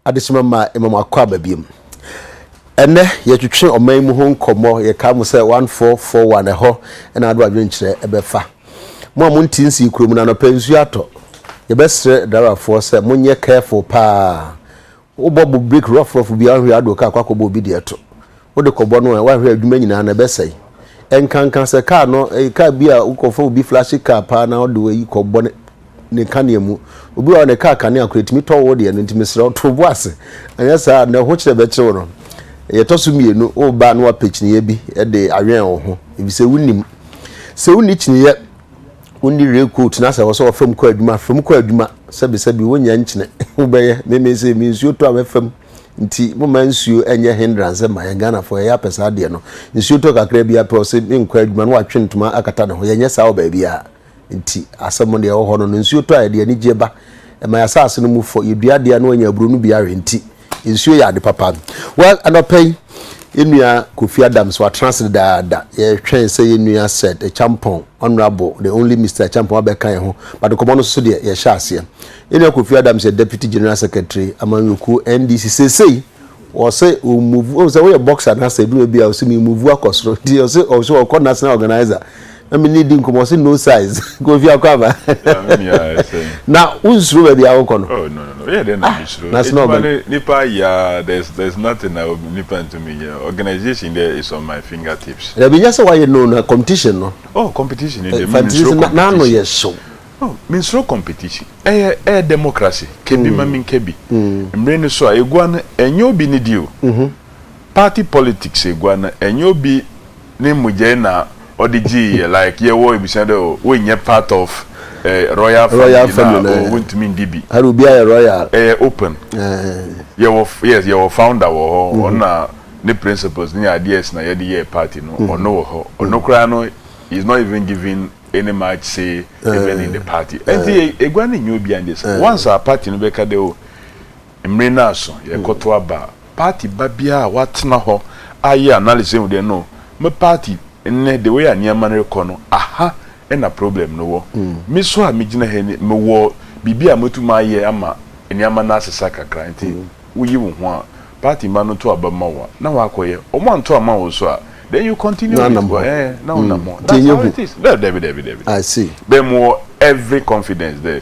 Adesima ma ɛma mo akɔ aba biom. Ɛnɛ yɛtwetwe ɔman yi mu ho nkɔmmɔ. Yɛkaa mo sɛ 1441 ɛhɔ na ado adwenkyerɛ ɛbɛfa. Mo a monte nsii kurom no anɔpa nsuo atɔ. Yɛbɛsrɛ driverfoɔ sɛ monyɛ careful paa. Wobɔ bo break rough rough bi a wanhwɛ ado car kɔ akɔbɔ obi deɛ to. Wode kɔbɔ no a wanhwɛ adwuma nyinaa no ɛbɛsɛe. Ɛnkanka sɛ car no ɛyɛ car bi a wokɔfa obi flashy car paa na wode wayi kɔbɔ ne ne kanea mu. Obi wɔ hɔ a ne car kanea koraa ɛtumi tɔ wo deɛ no nti mesrɛ wo to wo bo ase anyɛ saa a nea wo ho kyerɛ bɛkye wo no. Deɛ ɛtɔ so mmienu woreba a na woapɛ kyiniiɛ bi de awɛn wo ho efisɛ wonnim. Sɛ wonni kyiniiɛ wonni rain coat na sɛ wɔsɛ wɔfam kɔ adwuma fam kɔ adwuma sɛbisɛbi wonya nkyene wobɛyɛ meme sɛ me nsuo tɔ a mɛfam nti moma nsuo ɛnyɛ hindrance ma yɛn Ghanafoɔ yɛyɛ apɛ saa adeɛ no nsuo tɔ kakra bi apɛ ɔsɛ menkɔ adwuma no watwe ntoma akata ne ho yɛnyɛ saa wɔ baabi a nti asɛm deɛ ɛwɔ hɔ no no nsuo tɔ a yɛde anigyeɛ ba ɛma yɛasase no mu fɔ yɛdua adeɛ a na wanya aburo no bi awe nti Nsuo yɛ ade papa. Well, anɔpa yi, yɛn nua Kofi Adams, watena ase dedaada. Yɛtwɛn sɛ yɛn nua Sir Acheampong, Honourable, the only Mister Acheampong abɛka yɛn ho, but nkɔmmɔ no so deɛ, yɛhyɛ aseɛ. Yɛn nua Kofi Adams yɛ Deputy General Secretary, Amanyɔkuo, NDC. Seesei, ɔse ɔ move, wohu sɛ woyɛ boxer na sɛ ɛduru baabi a, ɔse me move akɔ soro, nti ɔse ɔse ɔkɔ National Organiser. na me ne di nkɔmɔ ɔsi no size kofi akɔ aba na o nsoro baabi a wokɔ no oh no no no yɛ dɛ na ah, mi soro edwuma ne nipa ayɛ there's there's nothing na nipa ntumi yɛ organisation dɛ is on my finger tips. ɛbi nyɛ sɛ wayɛ no na competition no. oh competition de eh, mi mi soro competition n'ano yɛ hyew. oh mi nsoro competition ɛyɛ eh, ɛyɛ eh, democracy kebi mm. ma mi nkebi mm. mmiri ni so a egua no ɛnyɛ obi ni di o mm-hmm. party politics egua no ɛnyɛ obi. ne mogya yi na ɔde gyee yɛ like yɛ wɔ ebusua dɛ oh wei nyɛ part of eh, royal family royal family na oh wontumi ndi bi hare obi ayɛ royal ɛyɛ open yɛ wɔ yes yɛ wɔ founder wɔ hɔ ɔno na ne principles ne ideas na yɛde yɛɛ party no ɔno wɔ hɔ ɔno koraa no is not even giving any much say even in the party ɛnti egua no nyɛ obiara ne dea once a party no bɛka dɛ oh. Mmere no aso, yɛrekɔto aba. Party ba biara a watena hɔ ayɛ analysis ahu dɛ no, me party nnɛ, the way a nneɛma no rekɔ no, aha na problem no wɔ. Me nso a megyina ha yi no, mewɔ biribi a mɛtumi ayɛ ama nneɛma no asesa kakra. Nti woyi wo ho a, party mma no nto aba mma wo a, na woakɔyɛ. Wɔanto amma wo nso a, then you continue with wo, ɛɛ, na wonam hɔ. That's how it is. Daabi, daabi, daabi. Bɛn mu wɔ every confidence dɛ.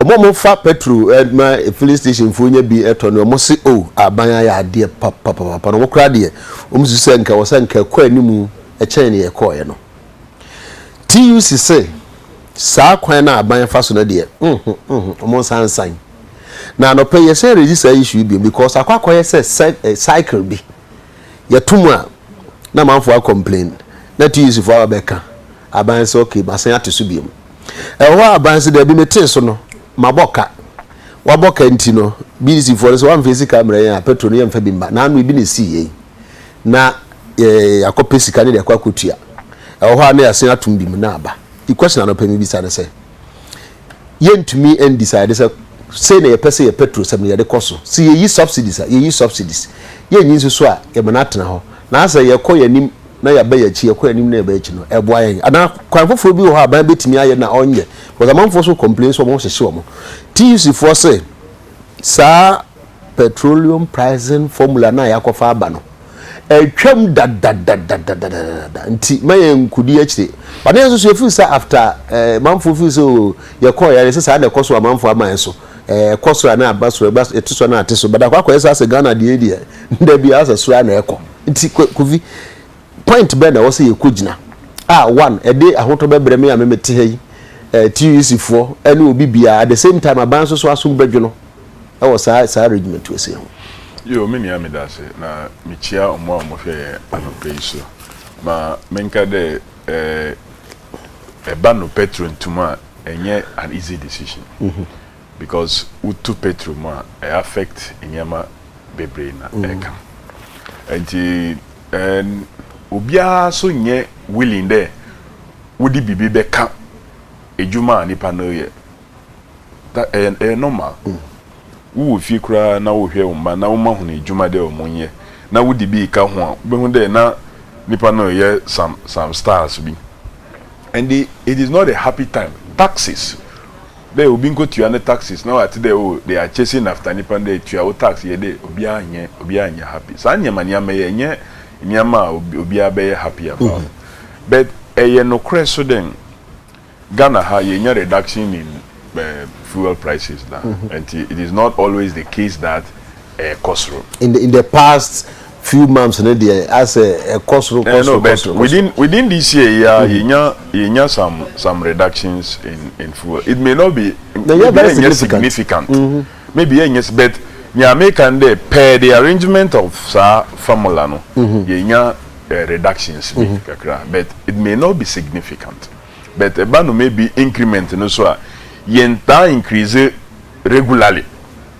Wɔn a wɔfa petrol ma filling station foɔ nya bi tɔ no, wɔn se o aban ayɛ adeɛ papapapa na wɔn koraa deɛ wɔn su sɛ nka wɔ sɛ nka ɛkɔ anim kyɛn ne ɛkɔɔɛ no. TUC se saa kwan na aban fa so no deɛ nho nho wɔn nsa nsan. Na anɔpɛ yɛsan redi saa issue bi because akɔ akɔyɛ sɛ cycle bi yɛto mu a na amanfoɔ a complain na TUC foɔ aba bɛka aban sɛ okay masan ate so biom. Ɛwɔ hɔ a bans daabi metee so no mabɔ ka. Wabɔ ka nti no BDC foɔ no sɛ wamfa sika mmerɛ yɛn a petro no yɛmfa bi mma. Naano ebi na esii yɛn na yɛakɔ pɛ sika no de akɔ akɔ tua. Ɛwɔ hɔ a na yɛasen atom bi mu na aba. The question anɔpɛ mebisa ne sɛ yɛntumi ndecide sɛ sei na yɛpɛ sɛ yɛ petro sɛm no yɛde kɔ so. Sɛ yɛyi subsidies a yɛyi subsidies. Yɛnyi nso so a yɛma no atena hɔ. Naasɛ yɛkɔ yɛn anim na yɛaba yɛn akyi, yɛkɔ yɛn anim na yɛba yɛn akyi no, ɛboa yɛn. Anaa kwan foforɔ bi wɔ hɔ a aban bɛtumi ayɛ na ɔnyɛ, because amanfoɔ nso complain sɛ wɔhyehye wɔn. TUC foɔ se saa petroleum pricing formula no a yɛakɔfa aba no, atwam dadadadadadadada nti ma yɛn nkudi akyire. But na yɛn nso so yɛfeel sɛ after eh, amanfoɔ feel sɛ oh, yɛkɔɔ yɛn sɛ saa na ɛkɔ so amanfoɔ ama yɛn so eh, ɛkɔ soro a na aba soro, ɛba ɛte so a na ate so, but akɔ akɔyɛ sɛ asɛ Ghana deɛ deɛ da bi asɛ soro a na ɛkɔ. Nti Kofi, point bɛn na ɛwɔ sɛ yɛkɔ gyina? Ah, one, ɛde ahotɔ bɛbrɛ me a me mete ha yi, eh, TUC foɔ, ɛne obi biara, at the same time aban nso so asom bɛdwono ɛwɔ saa, saa arrangement wɔ sei ho. Yoo, me nua meda ase, na mekyia ɔmo a ɔmo hwɛ yɛn anɔpa yi so. Ma menka dɛ, eh, ɛba nopɛ turentum a, ɛnyɛ an easy decision. Because wo tu petro mu a ɛ affect nneɛma bebree na ɛka. Nti ɛn obiara so nyɛ willing dɛ wode biribi bɛka adwuma a nipa no reyɛ. That ɛyɛ ɛyɛ normal. Wo wɔ fie koraa na wohwɛ wo mma na woma hunu adwuma dɛ ɔmo nyɛ na wode bi reka ho a wobɛhu dɛ na nipa no reyɛ some some styles bi. Ɛnde it is not a happy time. Taxes. Dɛ obi nkotua ne taxes na ɔatse dɛ oh they are chasing after nyimpa no dɛ tua wo tax yɛ dɛ obiara nnyɛ obiara nnyɛ happy saa ndzɛmba ndzɛmba yi nnyɛ ndzɛmba a obiara bɛyɛ happy about but ɛyɛ nokorɛ so dɛ Ghana ha yɛnnya reduction in fuel prices da ntsi it is not always the case that ɛkɔ soro. In the in the past few months no deɛ asɛ ɛkɔ soro kɔ soro kɔ soro. Within within this year yi ara yɛnya yɛnya some some reductions in in fuel it may not be maybe ɛnyɛ significant maybe ɛnyɛ but nea meka no dɛ per the arrangement of saa formula no yɛnya reductions bi kakra but it may not be significant but ɛba no maybe increment no so a yɛntaa increase regularly.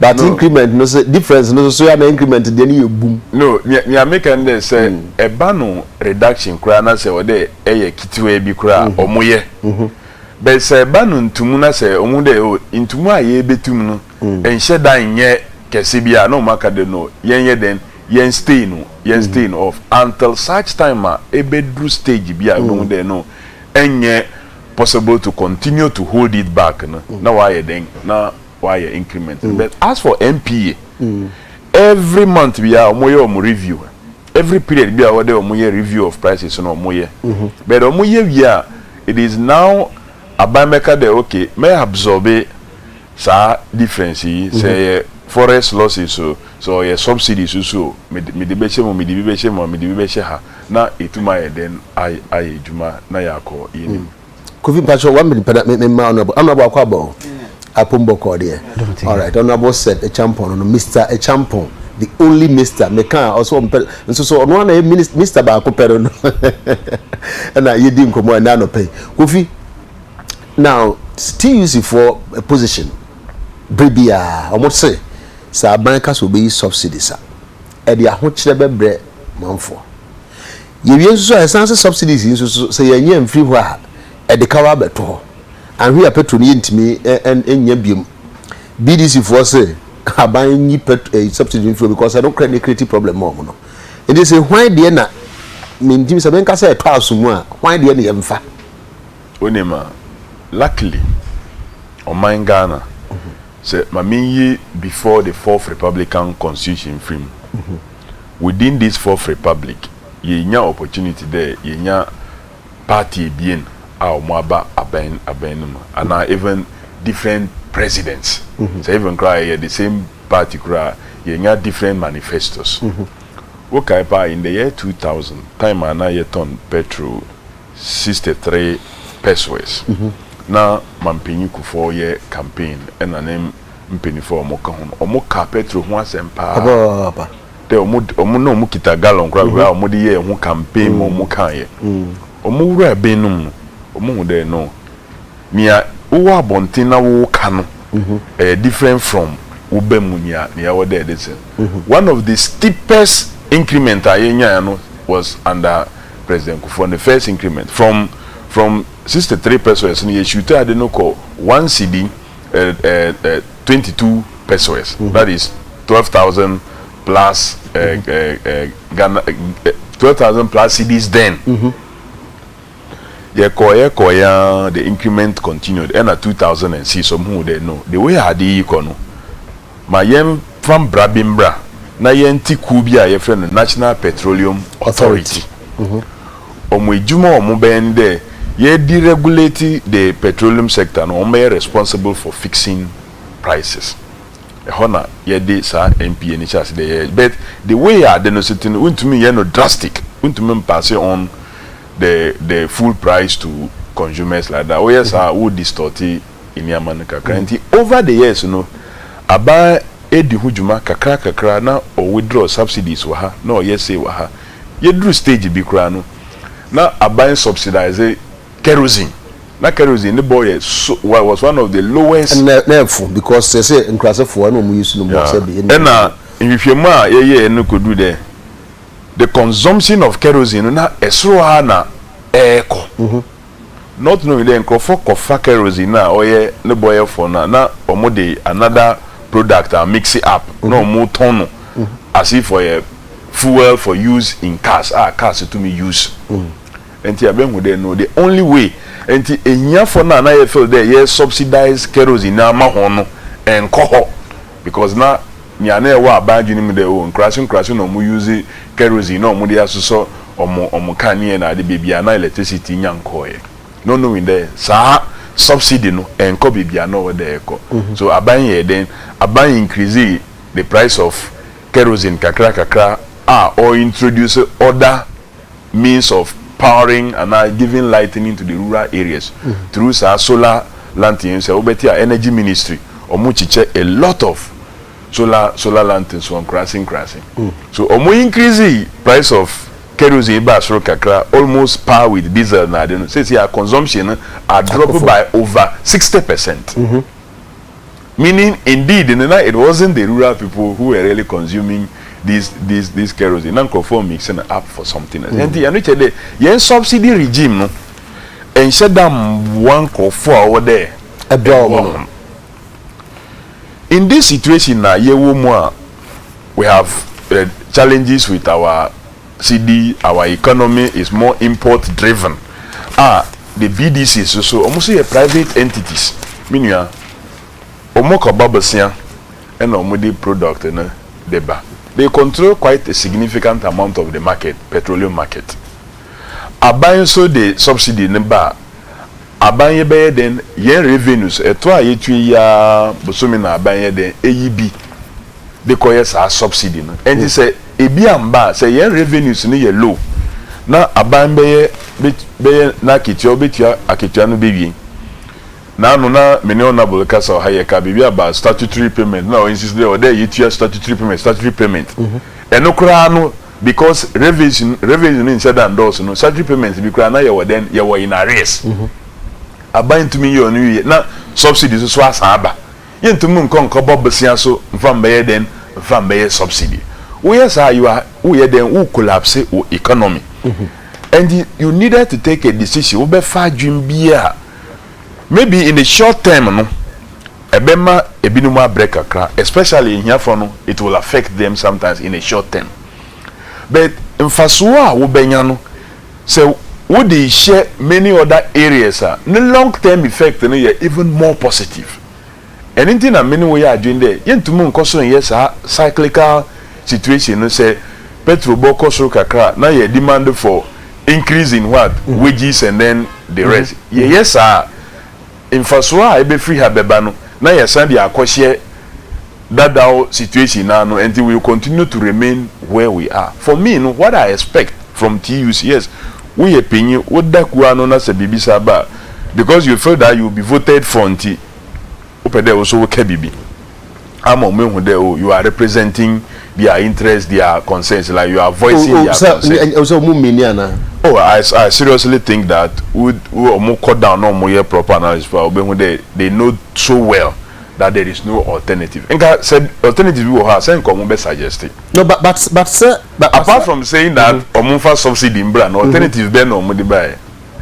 But increment no sɛ difference no soso ya na increment deɛ no yɛ bum. No, nea nea meka ne dɛ sɛ ɛba no reduction koraa na sɛ ɔdɛ ɛyɛ ketewaa bi koraa a, ɔmo yɛ. But sɛ ɛba no ntumu na sɛ ɔmo hu dɛ oh ntumu a yɛɛbɛtum no nhyɛ da nyɛ kɛse bi a na ɔmo aka dɛ no yɛn yɛ dɛn yɛn stay no yɛn stay no off until such time a ɛbɛduru stage bi a yɛbɛhu dɛ no ɛnyɛ possible to continue to hold it back no na waayɛ dɛn na wayɛ increment no but as for NPA every month biara wɔn yɛ wɔn review every period biara wɔde wɔn yɛ review of prices no wɔn yɛ but wɔn yɛ wie a it is now aban bɛka dɛ okay mɛ absorbe saa difference yi sɛ ɛyɛ forex losses o sɛ ɔyɛ subsidy so so o mede mede bɛhyɛ mu mede bi bɛhyɛ mu a mede bi bɛhyɛ ha na etum ayɛ dɛn ayɛ ayɛ adwuma na yɛakɔ yɛn nim. Kofi mpacho one minute pɛna me ma honorable honorable akɔ aba o apom bɔ kɔ deɛ all right honorable said echampon no no Mr echampon the only Mr me kan ɔsɛ ɔmpɛ nso so ɔno ana yɛ minister Mr baako pɛ no no ɛna yɛdi nkɔmɔ ɛna anɔpɛ Kofi now TUC for a position bere bi a wɔn se sɛ aban ka sɛ obeyi subsidies a ɛde ahokyerɛ bɛbrɛ manfoɔ. Yɛwie nso so a, ɛsan se subsidies yi nso so, sɛ yɛannya mfiri hɔ a, ɛde ka wa bɛto hɔ. Anhwe a petrol no yɛntumi nnya biom. BDC foɔ se aban nyi pɛt eh subsidy mfiri hɔ because ɛno kora na ɛkreti problem ma wɔn no. Nti se hwan deɛ na mentim sɛ menka sɛ ɛtɔ aso mu a, hwan deɛ na yɛmfa? Wonim a, luckily ɔman Ghana, sɛ ma menyi before the fourth republican constitution mfiri mu. Within this fourth republic, yeenya opportunity dɛ yenya party ebien a wɔaba aban aban no mu, anaa even different presidents, sɛ even koraa a yɛyɛ the same party koro a, yeenya different manifestos. Wokae paa, in the year two thousand, time a na yɛtɔn petrol sixty three pesoes, na Mampanyin Kufuor yɛ campaign na ne Mpanyimfo a wɔka ho no, wɔkaa Petro ho asɛm paa Papaapa. dɛ wɔn de, wɔn na wɔkita gallon koraa wei a wɔde yɛɛ ho campaign ma wɔkaeɛ. Wɔwuraa ben no mu no, wɔhu dɛ no, nea wowɔ abɔnten na woreka no, ɛyɛ different from woba mu nea nea ɛwɔ dɛ ɛde sɛn. One of the steepest increment a yɛnyaeɛ no was under President Kufuor, ne first increment. From from sixty three peseos no, yɛshuutee ade no kɔɔ one cedi eh, eh, eh, 22 pesewas, mm -hmm. that is 12,000 plus eh, mm -hmm. eh, eh, 12,000 plus cedis then. Mm -hmm. yɛkɔ yɛkɔ yɛn the increment continued ɛna 2006 ɔmo hu dɛ no the way ade yi kɔ no Ma yɛmfa mmara bi mmra na yɛnte kuo bi a yɛfrɛ no National Petroleum Authority. Wɔn adwuma a wɔn bɛyɛ ne dɛ yɛde regulate the petroleum sector no wɔn bɛyɛ responsible for fixing prices. Ɛhɔ na yɛde saa NPA no hyɛ ase dɛ yɛyɛ but the way a ade no so te no wontumi nyɛ no drastic, wontumi mpasse on the the full price to consumers like that. Woyɛ saa a wo distort. nneɛma no kakra. Nti over the years no, aban redi ho dwuma kakra kakra na ɔ withdraw subsidies wɔ ha na ɔyɛ sei wɔ ha. Yɛduru stage bi koraa no, na aban subsidise kerosene. Na kerosene ne bɔ yɛ so wa was one of the lowest. Ɛnna na ɛfo because seesei nkurasefoɔ ɛna wɔn use no more sɛ ɛbi ɛnna. Ɛnna nhwehwɛmu a yɛyɛɛ no kɔduru dɛ the consumption of kerosene no na ɛsoro ara na ɛrekɔ. North no hui dɛ nkorɔfo kɔfa kerosene no a ɔyɛ ne bɔ yɛ fɔw no a na wɔde another product a mixe up na wɔtɔn no as if ɔyɛ fuel for use in cars a cars tumi use ntsi yɛabehu dɛ no the only way ntsi ehiafo no a na yɛ feel dɛ yɛ subsidise kerosene no ama hɔn no nnkɔ hɔ. Because na nea na ɛwɔ aban adwene mu dɛ oh nkurase nkurase na ɔmo use kerosene na ɔmo de asosɔ ɔmo ɔmo kanea na ade bebia na electricity nya nkɔɔɛ not knowing dɛ saa subsidy no ɛnkɔ bebia na ɔwɔ dɛ ɛkɔ so aban yɛɛ dɛn aban increase the price of kerosene kakra kakra a ɔ introduce other means of powering anaa giving lightening to the rural areas through saa solar lanterns a wobɛte a energy ministry ɔmo kyekyɛ a lot of solar solar lanterns wɔ nkuraase nkuraase so ɔmo increase price of kerosene baa soro kakra almost par with diesel na ade no seesei a consumption no adrop by over sixty percent. meaning indeed no na it wasn't the rural people who were really consuming this this this kerosene na nkurɔfoɔ mix no up for something else ɛnti ɛno kyerɛ dɛ yɛn subsidy regime no ɛnhyɛ da mmoa nkurɔfoɔ a wɔwɔ dɛ ɛboa wɔn no in this situation na yɛwɔ mu a we have uh, challenges with our Sɛdi our economy is more import driven a the BDCs nso wɔn nso yɛ private entities me nua wɔn kɔ ba bosea ɛna wɔn de product no de ba they control quite a significant amount of the market petroleum market aban nso de subsidy no ba a Aban yɛ bɛyɛ dɛn yɛn revenues ɛtɔ a yɛtua yi ara bosome na aban yɛ dɛn ɛyi bi de kɔ yɛ saa subsidy no ɛnti sɛ ɛbi amba a sɛ yɛn revenues no yɛ low na aban bɛyɛ bɛyɛ n'akatua ɔbɛtua akatua no bɛwie na ano na me ne honourable kasa wɔ ha yɛ ka biribi about statutory payment na ɔ insist dɛ ɔdɛ yɛtua statutory payment statutory payment ɛno koraa no because revenues no revenues no nhyɛ da ndɔɔso no statutory payments bi koraa na yɛwɔ dɛn yɛwɔ in arrears aban ntumi nyɛ ɔno yiye na subsidy nso so asan aba yɛntumi nkɔ nkɔbɔ bosea so nfa mbɛyɛ dɛn nfa mbɛyɛ subsidy woyɛ saa a you are woyɛ dɛn wo collapse wo economy and you needed to take a decision wobɛfa adwene bi a. Maybe in the short term no ɛbɛma ebinom abrɛ kakra especially ahiafoɔ no it will affect them sometimes in a short term but mfasoɔ a wobɛnya no sɛ wode hyɛ many other areas a ne long term effect no yɛ even more positive. Ɛno nti na me ne wo yɛ adwene dɛ yɛntum nkɔ so nyɛ saa cyclical situation no sɛ petrol bɔ kɔ soro kakra a na yɛ demand for increase in what? wages and then the rest. Yɛyɛ saa a mfasoɔ a ɛbɛfiri ha bɛba no na yɛasan de akɔhyɛ dadaw situation no ano ɛnti we will continue to remain where we are. For me no what I expect from TUC yes woyɛ panyin woda kuo ano na sɛ biribi saa ba a because you feel that you will be voted for nti, wopɛ dɛ wo so woka biribi ama ɔmo ehu dɛ oh you are representing their interest their concerns like you are voicing their concerns. Ɔsɛ ɔmo mini anaa? Oh I I seriously think that wo ɔmo kɔ down na ɔmo yɛ proper analysis paa ɔbɛ hu dɛ they know so well that there is no alternative nka sɛ alternative bi wɔ hɔ a sɛ nka ɔmo bɛ suggest. No but but but sɛ. Apart from saying that ɔmo nfa subsidy mbra no alternative bɛn na ɔmo de ba yɛ?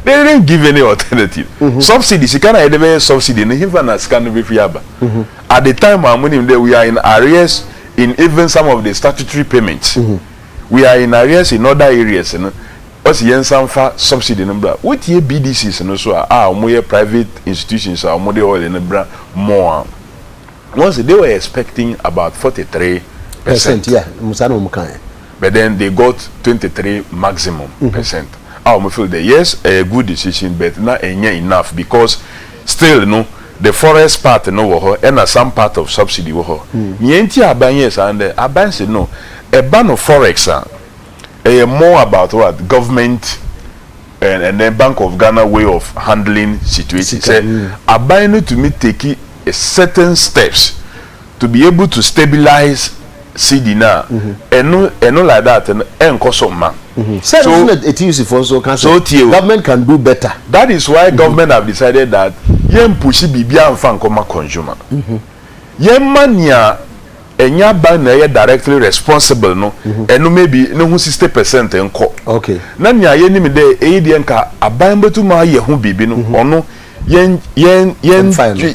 They didn't give any alternative. Mm -hmm. Subsidy, sika na yɛde bɛyɛ subsidy no, hefa na sika no bɛfiri aba. Mm -hmm. At the time, I'm winning that we are in arrears in even some of the statutory payments. Mm -hmm. We are in arrears in other areas. No? Ɔsi yɛn nsa nfa subsidy no bra. Wotie BDCs no so a, a wɔn yɛ private institutions a wɔn de oil no bra more a. Wɔn sɛ they were expecting about forty three percent. Yeah, musa na wɔn kan. But then they got twenty three maximum percent a wɔn feel dɛ yes ɛyɛ good decision but na ɛnyɛ enough because still no the forest part no wɔ hɔ ɛna some part of subsidy wɔ hɔ nea nti a aban yɛɛ saa no dɛ aban se no ɛba no forex a ɛyɛ more about what government and and then bank of Ghana way of handling situation sɛ aban no tumi take certain steps To be able to stabilize CD no a, ɛno ɛno like that no ɛnkɔ so mma. Sɛ ɛno nso na TUC foɔ nso ka sɛ government can do better. That is why government have decided that yɛn pushi biribiara nfa nkɔ ma consumer. Yɛn mma nea ɛnyɛ aban na ɛyɛ directly responsible no ɛno maybe ne ho sixty percent nkɔ. Na nea yɛnim dɛ ɛyi deɛ nka aban bɛtum ayɛ ho biribi no ɔno yɛn yɛn yɛn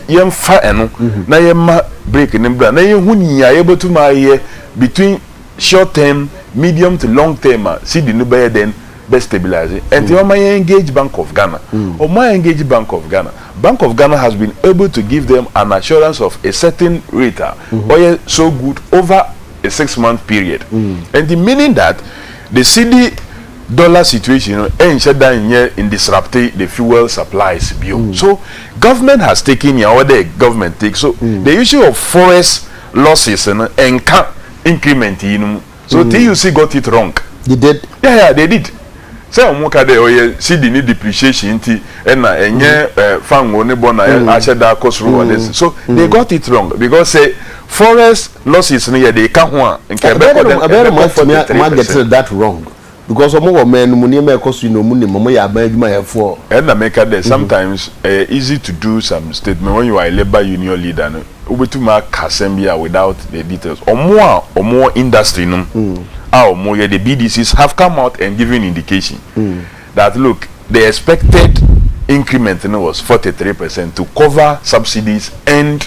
yɛmfa ɛno mhm. na yɛma break ne bra na yɛhu nea yɛbɛtumi ayɛ between short term medium to long term a cedi no bɛyɛ dɛn bɛ stabilize ɛnti mhm. wɔma yɛn engage bank of ghana mhm. wɔma yɛn engage bank of ghana bank of ghana has been able to give them an assurance of a certain rate a ɔyɛ so good over a six month period ɛnti meaning that the cedi. Dollar situation no nhyɛ da nyɛ ndisrupte the fuel supplies bio so government has taken nea ɔwɔ dɛ government take so the issue of forex losses no nka increment yi no mu so TUC got it wrong. They did. Yeah yeah they did sɛ ɔmo ka dɛ ɔyɛ cedi ne depreciation nti ɛna ɛnyɛ fango ne bɔ na ahyɛ da akɔ soro wɔ this so they got it wrong because sɛ Forex losses no yɛ de ka ho a nka ɛbɛkɔ dɛn? Ɛbɛyɛ dɛ Ɛbɛkɔ forty three percent. Moagetting that wrong because ɔmo wɔ ɔman no mu nneɛma a ɛkɔ so yi na ɔmo nim, ɔmo yɛ aban adwumayɛfoɔ. Ɛna meka dɛ sometimes ɛyɛ easy to do some statement when you are a labour union leader no wobɛtumi aka asɛm bi a without the details. Ɔmo a ɔmo wɔ industry no mu a ɔmo yɛ the BDCs have come out and given indication that look the expected increment no was forty three percent to cover subsidies and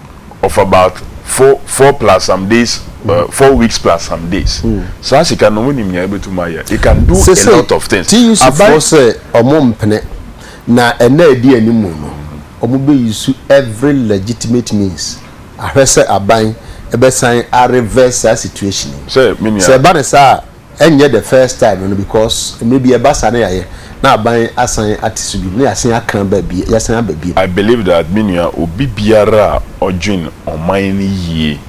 of about four four plus some days uh, four weeks plus some days saa sika no wonim nea ɛbɛtumi ayɛ it can do a lot of things aban sɛ ɔmo mpene na ɛna ɛdi anim no ɔmo bɛ use every legitimate means ahwɛ sɛ aban ɛbɛsan areverse saa situation sɛ ɛba ne saa Ɛnyɛ the first time no because mmerɛ bi ɛba saa na yɛayɛ na aban asan ate so bio na yɛasan aka aba bio, yɛasan aba bio. I believe that me nua obi biara a ɔdwen ɔman no yie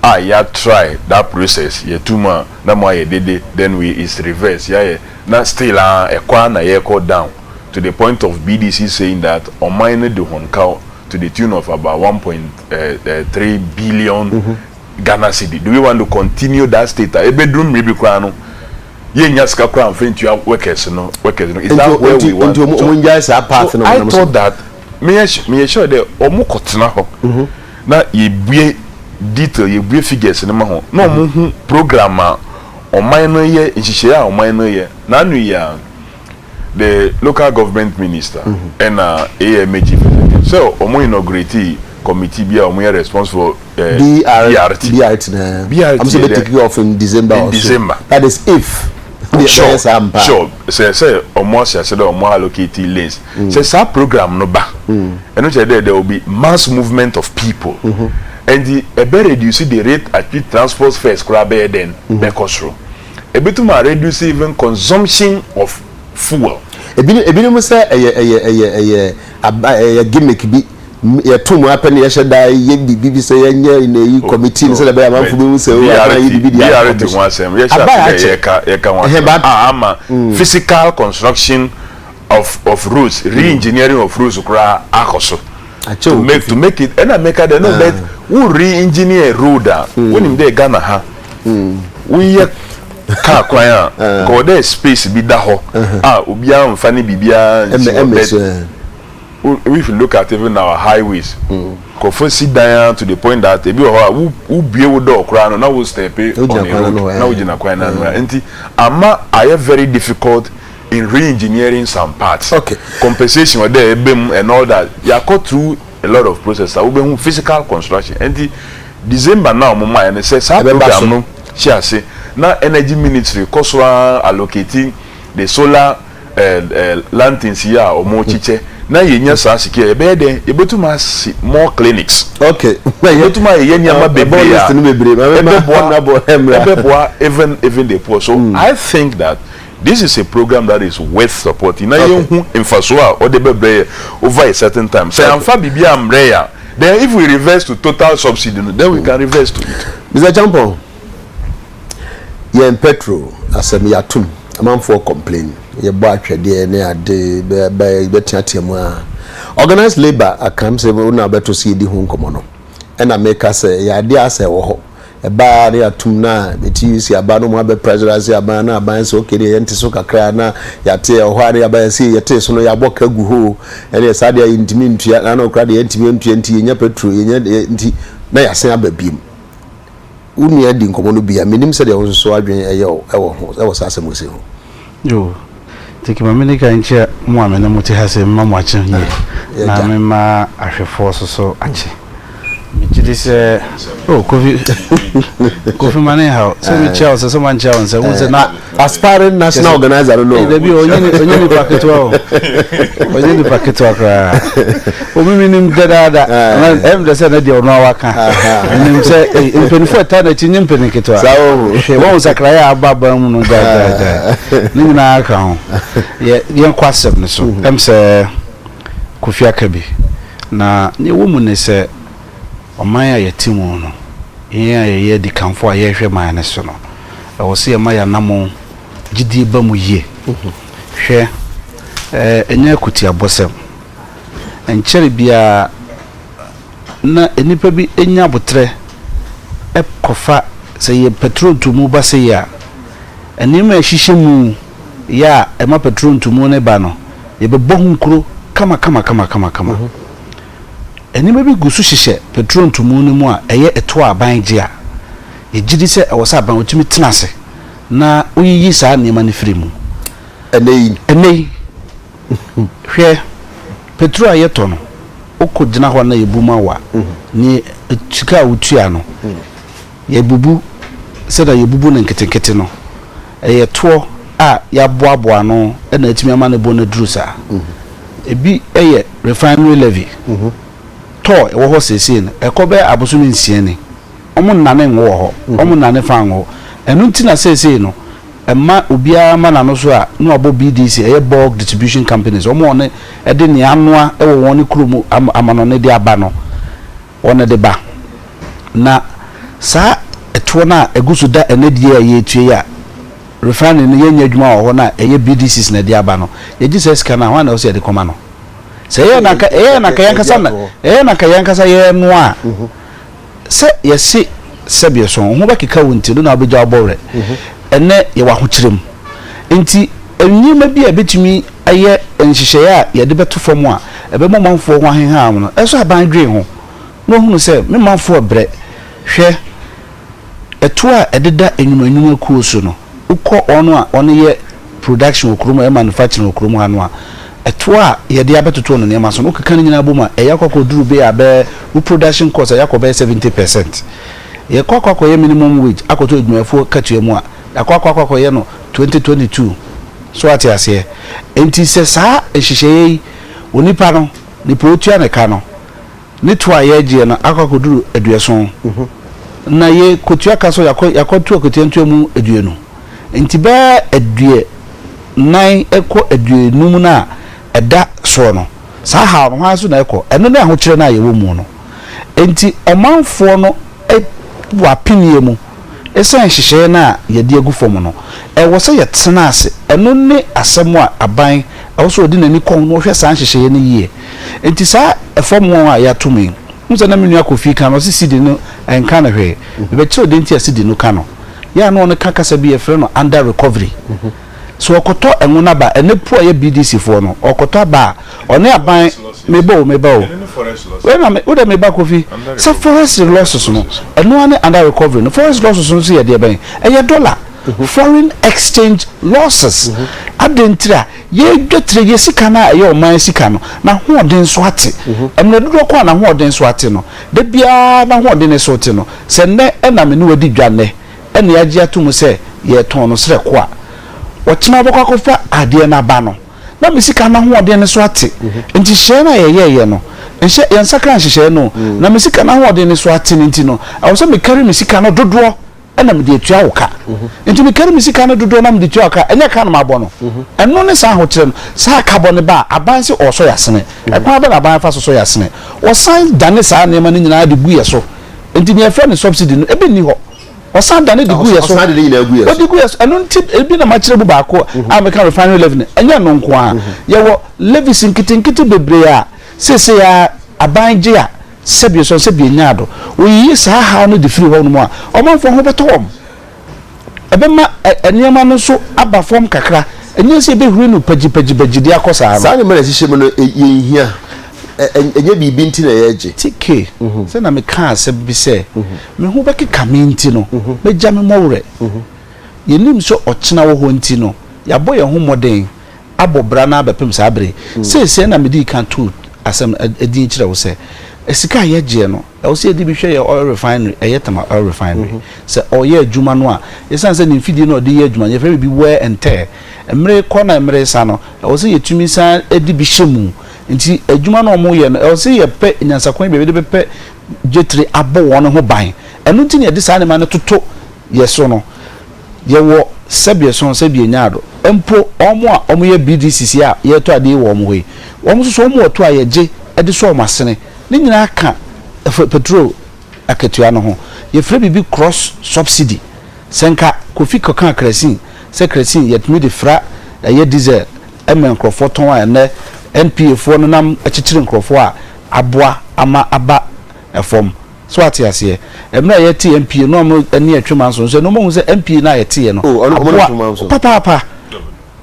a yɛ try that process yɛto mu a na mo ayɛ dede then we is reverse yɛayɛ na still aa ɛkɔ ara na yɛkɔ down to the point of BDC saying that ɔman no de hɔn kaw to the tune of about one point three billion Ghana cedi do we want to continue that state a ebeduru mmere bi koraa no yennya sika koraa mfa ntua workers no workers no is that where we want to nti ɔmo ngyae saa path no wɔnam so so I thought that meyɛ meyɛ sure dɛ ɔmo kɔ tena hɔ mhm. na yebue detail yebue figures no ma ho na ɔmo mhm. hu program a ɔman no yɛ nhyehyɛe a ɔman no yɛ n'ano yɛ a. The local government minister ɛna AMA chief executive sɛ wɔn inaugurate committee bi a wɔn yɛ response for eh, BRT. BRT na BRT wɔn sɛ bɛ take off in December in or December. so. That is if deɛ bɛyɛ Sure, saa mpa. sure. Sɛ sɛ wɔn ahyɛ ase dɛ wɔn allocate lanes. Sɛ saa program no ba, ɛno kyerɛ dɛ there will be mass movement of people. Ɛnti ɛbɛ reduce the rate at which transport fares koraa bɛyɛ dɛn bɛkɔ soro. Ebetum a reduce even consumption of fuel. Ebinom ebinom sɛ ɛyɛ ɛyɛ ɛyɛ ɛyɛ aba ɛyɛ gimmick bi yɛto mu ara pɛ na yɛhyɛ da yɛ biribi bi sɛ yɛnyɛ na yi Oh committee no oh sɛdeɛ ɛbɛyɛ a amanfo right behu sɛ oh aban BRT ayɛ biribi deɛ ayɛ BRT ho commission asɛm yɛhyɛ ase abae dɛ akyɛ yɛka yɛka ho ɛhɛn asɛm ba a ama mm physical construction of of roads re-engineering of roads koraa akɔ so. akyɛ o make to make it ɛna meka dɛ no bɛ wo re engineer road a wonim dɛ Ghana ha woyɛ car kwan a nka wɔ dɛ space bi da hɔ a obiara mfa ne biribiara nsi hɔ bɛ if you look at even our highways nkurɔfoɔ si dan ara to the point that ebi wɔ hɔ a wo bue wo door koraa no na wo step on a road na wogyina kwan no ano a nti ama ayɛ very difficult in re-engineering some parts okay compensation ɔdɛ ɛbɛ mu and all that yakɔ through a lot of process a wobɛhu physical construction ɛnti December na ɔmo maa yɛ no sɛ saa program no hyɛ ase na energy ministry kɔ so ara allocate the solar ɛɛ ɛɛ lanterns yi a ɔmo kyekyɛ na yɛ nya saa sika yɛ bɛyɛ dɛn yɛ bɛtum asi more clinics okay yɛ bɛtum ayɛ yɛ nneɛma bebree a ɛbɛ boa ɛbɛ boa even even the poor so I think that This is a program that is worth supporting na yɛn hu nfasoɔ a ɔde bɛbrɛ yɛ over a certain time. Sɛ yɛanfa biribi ambrɛ yɛ a, then if we reverse to total subsidy no, then we can reverse to it. Mister Acheampong, yɛn petrol asɛm yɛatom, amanfoɔ complain, yɛbɔ atwɛdeɛ ne ade, bɛteatea mu aa. Organised labour aka, m sɛ wo na wobɛto so yɛdi ho nkɔmmɔ no, ɛna meka sɛ ɛyɛ adeɛ a asɛ ɛwɔ hɔ. Ɛbaa a na yɛatom no a me TUC aban no mu abɛ pressure ase aban na aban sɛ okay deɛ yɛnte so kakra a na yɛate ɛwɔ hɔ a na yɛaba yɛse yɛtee so no yɛabɔ ka gu hoo ɛneɛ saa deɛ a yɛntumi ntua na na ɔkora deɛ yɛntumi ntua nti yɛnya petro yɛnya deɛ nti na yɛasen aba biom. Wo nua di nkɔmmɔ no bi a mennim sɛdeɛ wo nso adwene ɛyɛ wo ɛwɔ ho ɛwɔ saa asɛm wei sei ho. Oh teke ma mene ka nkyerɛ mo a mene mo te ha se mema mo akye yie na mema ahwefoɔ so so akye megyedi sɛ oh kofi kofi ma ne nhaw sɛ mekyia wo sɛ sɛ mankyia wo nsɛ wo sɛ na aspiring national organizer no no dabi ɔnyɛ nipa ketewa o ɔnyɛ nipa ketewa koraa Obi mi nim dadaada. Ɛm dɛ sɛ na deɛ ɔno awa ka. Ɛnim sɛ mpanyinfoɔ ɛta n'akyi nye mpanyin ketewa. Hwɛ wɔn nsakraeɛ a aba ban mu no gyaagyaagyaa. Ne nyinaa ka ho. Yɛ yɛn kɔ asɛm no so. Ɛm sɛ Kofi aka bi. Na nea ɛwɔ mu ne sɛ ɔman a yɛte mu no, yɛn a yɛyɛ adikanfoɔ a yɛrehwɛ man no so no, ɛwɔ sɛ yɛma yɛn anammɔn gyidie ba mu yie. Hwɛ, ɛnyɛ akutiabɔsɛm. Ɛnkyɛree biara na nnipa bi nya aboterɛ kɔfa, sɛ yɛ pɛtro ntu mu ba sei a, nneɛma a ɛhyehyɛ mu yɛ a ɛma pɛtro ntu mu no ba no, yɛbɛbɔ ho nkuro kamakamakamakama. Nneɛma bi gu so hyehyɛ pɛtro ntu mu no mu a ɛyɛ ɛtoɔ a aban gye a, yɛgye di sɛ ɛwɔ sɛ aban wɔtumi tena ase na wɔyiyi saa nneɛma no firi mu. Ɛnnɛ yi. Hwɛ, petro a yɛtɔ no, wokogyina hɔ na yɛbu ma wo a, ne sika a wotua no, yɛbubu sɛdeɛ yɛbubu no nketenkete no. Ɛyɛ toɔ a yɛaboaboa ano na atumi ama ne bo no aduru saa. Ebi yɛ refinery levy, toll ɛwɔ hɔ seesei no, ɛkɔ bɛyɛ abosome nsia ni. wɔnnane nnwo wɔ hɔ, wɔnnane fã nnwo. Ɛno nti na seesei no, ɛma obiara ma n'ano so a na wɔabɔ BDC, ɛyɛ Bulk Distribution Companies, wɔn a wɔne, ɛde nea anoa wɔ wɔn kurom am, amanɔne de aba no, wɔde ba. Na saa ɛtoɔ no a ɛgu so da ɛnnɛ die a yɛretua yi a refinery no yɛnyɛ adwuma wɔ hɔ no a ɛyɛ BDCs na ɛde aba no, yɛgye saa sika no a, hwan na ɛwɔ sɛ yɛde kɔma no? Sɛ ɛyɛɛ na anka, ɛyɛɛ na anka yɛn ankasa na, ɛyɛɛ na anka yɛn ankasa yɛrenoa a, sɛ yɛse sɛbeɛ sɔn wo ho bɛkeka wo nti ɛno na wobɛgya wobɔ werɛ. Ɛnnɛ yɛwɔ ahokyerɛ mu nti nneɛma bi a ɛbɛtumi ayɛ nhyehyɛeɛ a yɛde bɛto fam a ɛbɛma ɔmanfoɔ ho aheha wɔn no ɛsɔ aban dwene ho na wɔhunu sɛ me manfoɔ rebrɛ. Hwɛ ɛtoɔ a ɛdeda nnwuma nnwuma kuo so no wokɔ wɔn a wɔyɛ production wɔ kurom, ɛyɛ manufacturing wɔ kurom ha no a, ɛtoɔ a yɛde abɛtotoɔ no nneɛma so no, wokeka ne nyinaa bom a, ɛyɛ akɔ akɔduru bɛyɛ a bɛyɛ, wo production cost, ɛyɛ akɔ bɛyɛ seventy percent. Yɛkɔ akɔ akɔyɛ minimum wage akɔto adwumayɛfoɔ katua mu a, yɛakɔ akɔ akɔ akɔyɛ no twenty twenty two. So woate aseɛ? Enti sɛ saa nhyehyɛeɛ yi, onipa no, nipa a ɔtua ne ka no, Ne toɔ a yɛɛgyeɛ no akɔ akɔduru aduɔson, na ye kɔtua ka so yɛakɔ yɛakɔ to akwatia ntoa mu aduonu. Nti bɛɛ aduɛ nan kɔ aduonum no a ɛda soɔ no, saa haw no, hwan so na ɛkɔ? Ɛno ne ahokyerɛ no a yɛwɔ mu no. Nti ɔmanfoɔ no wɔ apeneɛ mu ɛsiane nhyehyɛeɛ no a yɛde agu fam no. Ɛwɔ sɛ yɛtena ase, ɛno ne asɛm a aban ɛwɔ sɛ ɔde n'ani kɔ ho na ɔhwɛ saa nhyehyɛeɛ no yie. Enti saa ɛfam wɔn a yɛato me yi, wohu sɛ na me nua Kofi ka no, ɔse CD no ɛnka no hwee. Mebɛkyerɛw deɛ nti a CD no ka no. Yɛ a na ɔno ka kasa bi yɛfrɛ no Under Recovery. Sɛ ɔkɔtɔ ngo no aba a, ɛnɛ Pua yɛ BDC foɔ no, ɔkɔtɔ aba a, ɔne aban, meba o, meba o. Wei na me, wode meba Kofi. Sɛ Forest Losses no, ɛno ara ne Under Recovery no. Forest Losses no nso yɛ deɛ bɛn? Ɛyɛ dɔla, Foreign Exchange Losses. Adɛn ntira? Yɛadwatire yɛ sika no a ɛyɛ ɔman sika no, n'ahoɔden so ate. Mmerɛ dodoɔ ko a n'ahoɔden so ate no, da biara n'ahoɔden no so rete no, sɛ nnɛ na me ne wo adi dwa nnɛ, ɛna yɛagye ato mu sɛ yɛretɔn no serɛ ko a, ɔkyena wobɛkɔ akɔfa adeɛ no aba no, na me sika no ahoɔden no so ate. Nhyehyɛeɛ no a yɛyɛeɛ no, nhyɛ, yɛnsakra nhyehyɛeɛ no o, na me sika no ahoɔden no so ate no nti no, ɛwɔ sɛ mekari me sika no dodoɔ. ɛna mede atua wo ka nti mekari me sika no dodoɔ na mede tua wo ka ɛnyɛ ka no mabɔ no ɛno ne saa ahokyerɛ no saa ka bɔ ne ba a aban se ɔsɔ yɛ asene ɛkwan bɛ na aban fa so sɔ yɛ asene ɔsan dane saa nneɛma no nyinaa de gu yɛ so nti nea ɛfrɛ ne subsidy no ebi nni hɔ ɔsan dane de gu yɛ so ɔde gu yɛ so ɛno nti ebi na makyerɛ mu baako a meka refinery levy no ɛnyɛ ɛno nko a yɛwɔ levies nketenkete bebree a seesei a aban gye a Sɛbi ɔsɔn sɛ bia nyaa do. Woyiyi saa haw no de firi hɔnom a, ɔmanfoɔ ho bɛtɔ wɔn. Ɛbɛma nneɛma no nso aba fam kakra. Ɛnyɛ sɛ yɛbɛhuri no pagyipagyi-pagyi de akɔ saa no. Saa nneɛma no a ɛhyehyɛ mu no, yɛnhia. Ɛnyɛ biribi nti na yɛregye. TK, Sɛ na mekaa asɛm bi sɛ, me ho bɛkeka me nti no, mɛgya me mmɔwerɛ. Yɛnnim sɛ ɔkyena wɔ hɔ nti no, yɛabɔ yɛn ho mmɔden. abɔ bra no ara bɛpem saa bere yi. Seesei na midii kan too asɛm din kyerɛ wo sɛ, sika a yɛgyeɛ no, ɛwɔ sɛ yɛde bi hwɛ yɛn oil refinery, ɛyɛ Tema Oil Refinery. Sɛ ɔreyɛ adwuma no a, esiane sɛ ne mfidie no a ɔde reyɛ adwuma no, yɛfrɛ no biribi wear and tear, mmere rekɔ na mmere resa no, ɛwɔ sɛ yɛtumi san de bi hyɛ mu. Nti adwuma no a wɔreyɛ no, ɛwɔ sɛ yɛpɛ nyansakwan bi a yɛde bɛpɛ gyetere abɔ wɔn ho ban. Ɛno nti na yɛde saa nneɛma no toto yɛn so no. Yɛwɔ sɛbeɛ sɔn sɛbeɛ nyaado mpo wɔn a wɔyɛ BDCs yi a yɛretɔ adeɛ yi wɔ wɔn hɔ yi, wɔn nso so wɔwɔ tow a yɛgye de sɔ wɔn asene. Ne nyinaa ka firi petrol akatua no ho. Yɛfrɛ biribi cross subsidy. Sɛ nka Kofi kɔkaa kerɛsin sɛ kerɛsin yɛtumi de fra ɛyɛ diesel ma nkorɔfoɔ tɔn a ɛnnɛ NPA foɔ no nam kyekyere nkorɔfoɔ a aboa ama aba fam. So wate aseɛ? Mmerɛ a yɛte MPA no a wɔn ani retwe manso nso ɛno wɔahu sɛ MPA no a yɛteeɛ no aboa papaapa,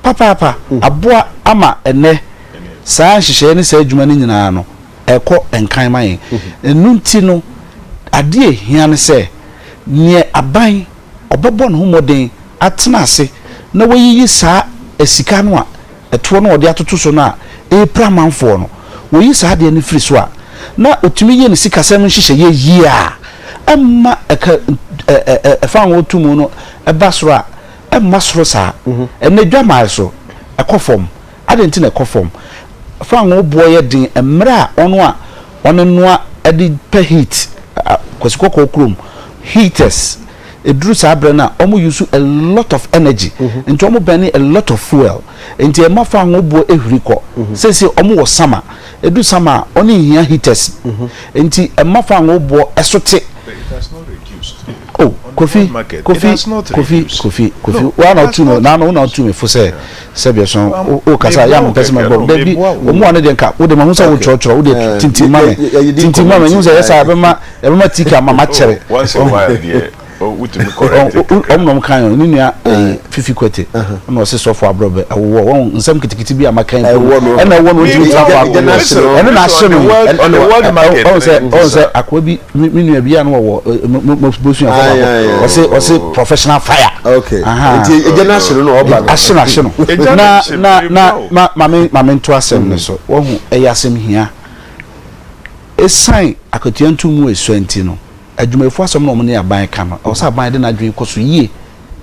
papaapa, aboa ama ɛnnɛ saa nhyehyɛeɛ ne saa adwuma no nyinaa no ɛrekɔ nkan ma yɛn. Ɛno nti no adeɛ a ɛhia ne sɛ neɛ aban ɔbɛbɔ ne ho mmɔden atena ase na wayiyi saa sika no a. ɛtoɔ no a ɔde atoto so no a ɛrepira amanfoɔ no, wɔyi saa adeɛ no firi so a, na ɔtumi yɛ ne sikasɛm nhyehyɛeɛ yie a ɛmma ɛka ɛfa a wɔto mu no ba soro a, ɛmma soro saa. Ɛnnɛ dwammaeɛ so, ɛkɔ fam. Adɛn nti na ɛkɔ fam? Fangoo boɔ yɛ den mmerɛ a wɔn a wɔnoa de pɛ heat, Kwasi Kɔkɔɔ kurom, heaters ɛduru saa berɛ no a ɔmo use a lot of energy nti ɔmo bɛne a lot of fuel nti ɛma fango boɔ ɛhuri kɔ seesei ɔmo wɔ sama ɛdu sama a ɔne nhia heaters nti ɛma fango boɔ ɛso te oh kofi kofi kofi kofi kofi wa na ɔtu mi na ano na ɔtu mi fo sɛ sɛbi ɛso o kasa yɛ ano pɛsɛ ma bɔ dɛbi ɔmo wa ne deɛ nka o de ma ho sɛ o kyerɛkyerɛ o de tintin ma mi tintin ma mi n sɛ yɛ sɛ abɛma. Yɛbɛma Tike ama makyɛre. Oh, once a while deɛ oh, wotumi correct it kakra. Ɔmo na ɔmo kan yɛn, ne nua eh, eh. Fifi Kwete, ɛna ɔse sɔfo abrɔbɛ, ɛwowɔ, wɔn nsɛm kitikiti bi a maka yi mpo no, ɛna ɛwɔ no ntumi ntra faako, ɛno na ahye no, ɔmo sɛ, ɔmo sɛ akoa bi, me nua bi a na wɔwɔ, eh, mabusua fo baako, ɔse, ɔse oh. professional fire, aha, nti egya no ahye no na ɔba no, ahye no, ahye no, na, na, na, ma, ma me, ma me nto asɛm no so, wɔhu, ɛyɛ asɛm hia. Esiane akatua nto mu a esua nti no, adwumayɛfo asɛm na wɔne aban ka no. Ɛwɔ sɛ aban de n'adwene kɔ so yie.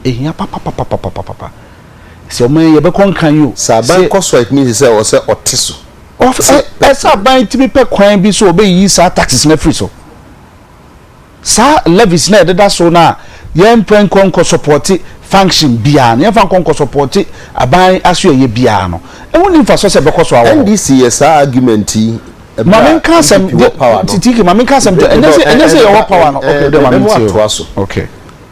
Ehia papapapapapapa sɛ ɔman yi ɛbɛkɔ nkan o. Sɛ aban kɔ so a, etumi si sɛ ɛwɔ sɛ ɔte so. Ɔf, ɛ, ɛsɛ sɛ aban tumi pɛ kwan bi so a ɔbɛyiyi saa taxes no afiri so. Saa levies no a yɛdeda so no a yɛmfa nkɔ nkɔsɔpɔte function biara no, yɛmfa nkɔ nkɔsɔpɔte aban asoɛeɛ biara no, ɛho nni mfasoɔ sɛ ɛbɛkɔ so awɔ hɔ. NDC yɛ saa argument yi ɛberɛ a DPP wɔ power no. Titike, ma menka asɛm nkyerɛ wo. Ɛnyɛ sɛ yɛwɔ power no, okay, wode ma mentie o.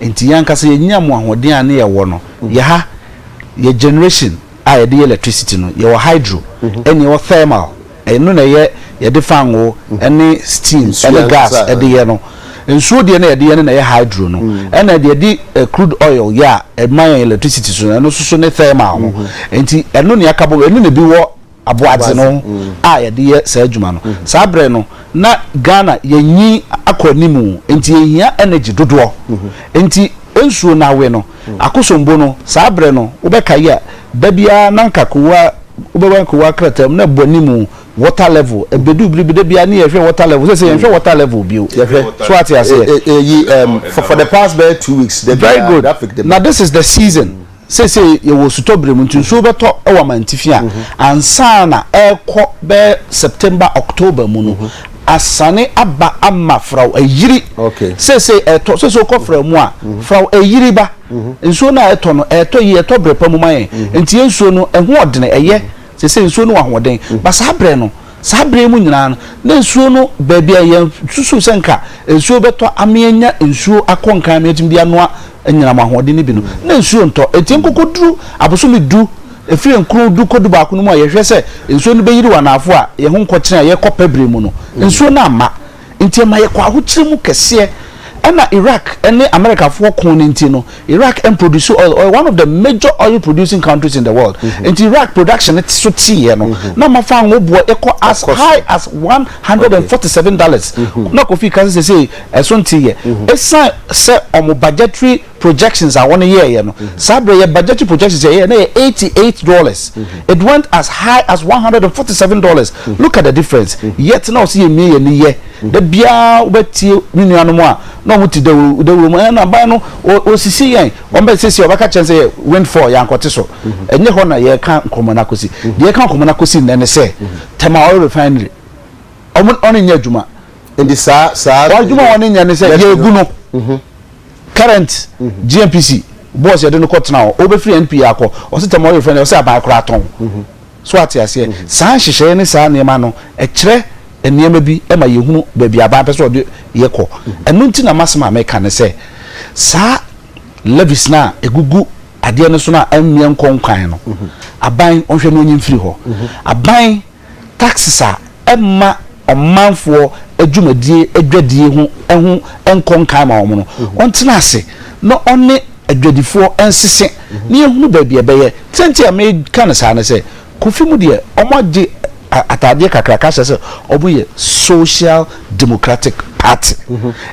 Nti yɛn ankasa yɛnya mu ahoɔden a ne yɛwɔ no. Yɛ ha, yɛ generation a yɛde yɛ electricity no, yɛwɔ hydro ɛne yɛwɔ thermal, ɛno na ɛyɛ yɛde fangoo ɛne steam ɛne gas ɛde yɛ no. Nsuo deɛ na yɛde yɛ no na ɛyɛ hydro no. Ɛna deɛ yɛde crude oil yɛ a ɛma yɛn electricity so no, ɛno nso so ne thermal no. Nti ɛno na yɛaka bom, ɛno na ebi wɔ. aboagye no a yɛde yɛ saa adwuma no. Saa berɛ no na Ghana yɛnyin akɔ anim nti yɛhia energy dodoɔ nti nsuo no awe no Akosombo no saa berɛ no wobɛkae a da biara na nka kowaa wobɛwɛn kowaa krataa mu na ɛbɔ anim water level ɛbɛduu bere bi da biara ne yɛhwɛ water level sɛsɛ yɛnhwɛ water level bio yɛhwɛ so ate aseɛ for the past bɛyɛ two weeks very good na this is the season Seesei yɛwɔ osutɔbere mu, nti nsuo bɛtɔ wɔ amantifi a ansa na ɛrekɔ bɛyɛ September, October mu no, asane aba ama Frau ayiri. Seesei ɛtɔ, seesei wokɔ Frau mu a, Frau ayiri ba. Nsuo no a ɛtɔ no, ɛtɔ yie, ɛtɔ berɛ pa mu ma yɛn. Nti yɛn nsuo no, ɛho ɔdene, ɛyɛ, seesei nsuo no wɔ ahoɔden. Ba saa berɛ no, Saa bere yi mu nyinaa no, na nsuo no baabi a yɛasusuw sɛ anka nsuo bɛtɔ ama yɛanya nsuo akɔ nkan ama yɛatumi de anoa anyinam ahoɔden no bi no, na nsuo ntɔ. Enti ɛnkɔkɔduru abosome du, ɛfiri nkron du kɔdu baako no mu a yɛhwɛ sɛ nsuo no bɛyiriw anaafo a yɛn ho nkɔkyerɛn a yɛrekɔ Pɛbrɛ mu no, nsuo no amma. Nti ɛma yɛkɔ ahokyere mu kɛseɛ. Ɛna Iraq ne Americafoɔ koo no nti no Iraq ɛmproduce oil, ɔyɛ one of the major oil producing countries in the world. Nti Iraq production no so teeɛ no na ama fa ngo boɔ ɛkɔ as high as one hundred and forty seven dollars. Na Kofi ka sɛ seisei ɛso nteeɛ ɛsiane sɛ wɔn budgetary projections a wɔn yɛɛyɛ no saa berɛ yɛ budgetary projections yɛyɛ na yɛ eighty eight dollars it went as high as one hundred and forty seven dollars look at the difference yet na ɔsi yɛ mie yɛ ni yɛ da biara wɔbɛtie ne nuanom a na wɔn ti dawuro dawuro mu ɛna ban no osisi yɛn wɔn bɛ sisi ɔbɛka kyɛn sɛ yɛ windfall yɛ ankɔte so ɛnyɛ hɔ na yɛ ka nkɔmɔ na kosi deɛ yɛ ka nkɔmɔ na kosi nnɛ ne sɛ tɛma oil refinery wɔn wɔn nyɛ adwuma nti saa saa wɔn adwuma wɔn nyɛ ne sɛ yɛ egu no. Current GNPC boss yɛde no kɔ tena hɔ, ɔbɛfiri NPA akɔ, ɔse Tamale refrɛ no, ɔse aban koraa tɔn. So ate aseɛ? Saa nhyehyɛeɛ ne saa nneɛma no, ɛkyerɛ nneɛma bi ma yɛhunu baabi aban pɛ sɛ ɔde yɛ kɔ. Ɛno nti na m'asɛm a meka ne sɛ, saa levies no a ɛgugu adeɛ no so no a ɛmmie nkɔ nkwan no, aban ɔnhwɛ na ɔnyi mfiri hɔ. Aban. taxes a ɛmma ɔmanfoɔ adwumadie adwadie ho ho nkɔ nkan ma wɔn no, ɔntena ase na ɔne adwadifoɔ nsese na yɛhunu baabi a ɛbɛyɛ. Sɛ nti a meka no saa ne sɛ, Kofi mu deɛ wɔagye ataadeɛ kakraka ahyɛ sɛ wɔyɛ Social Democratic Party.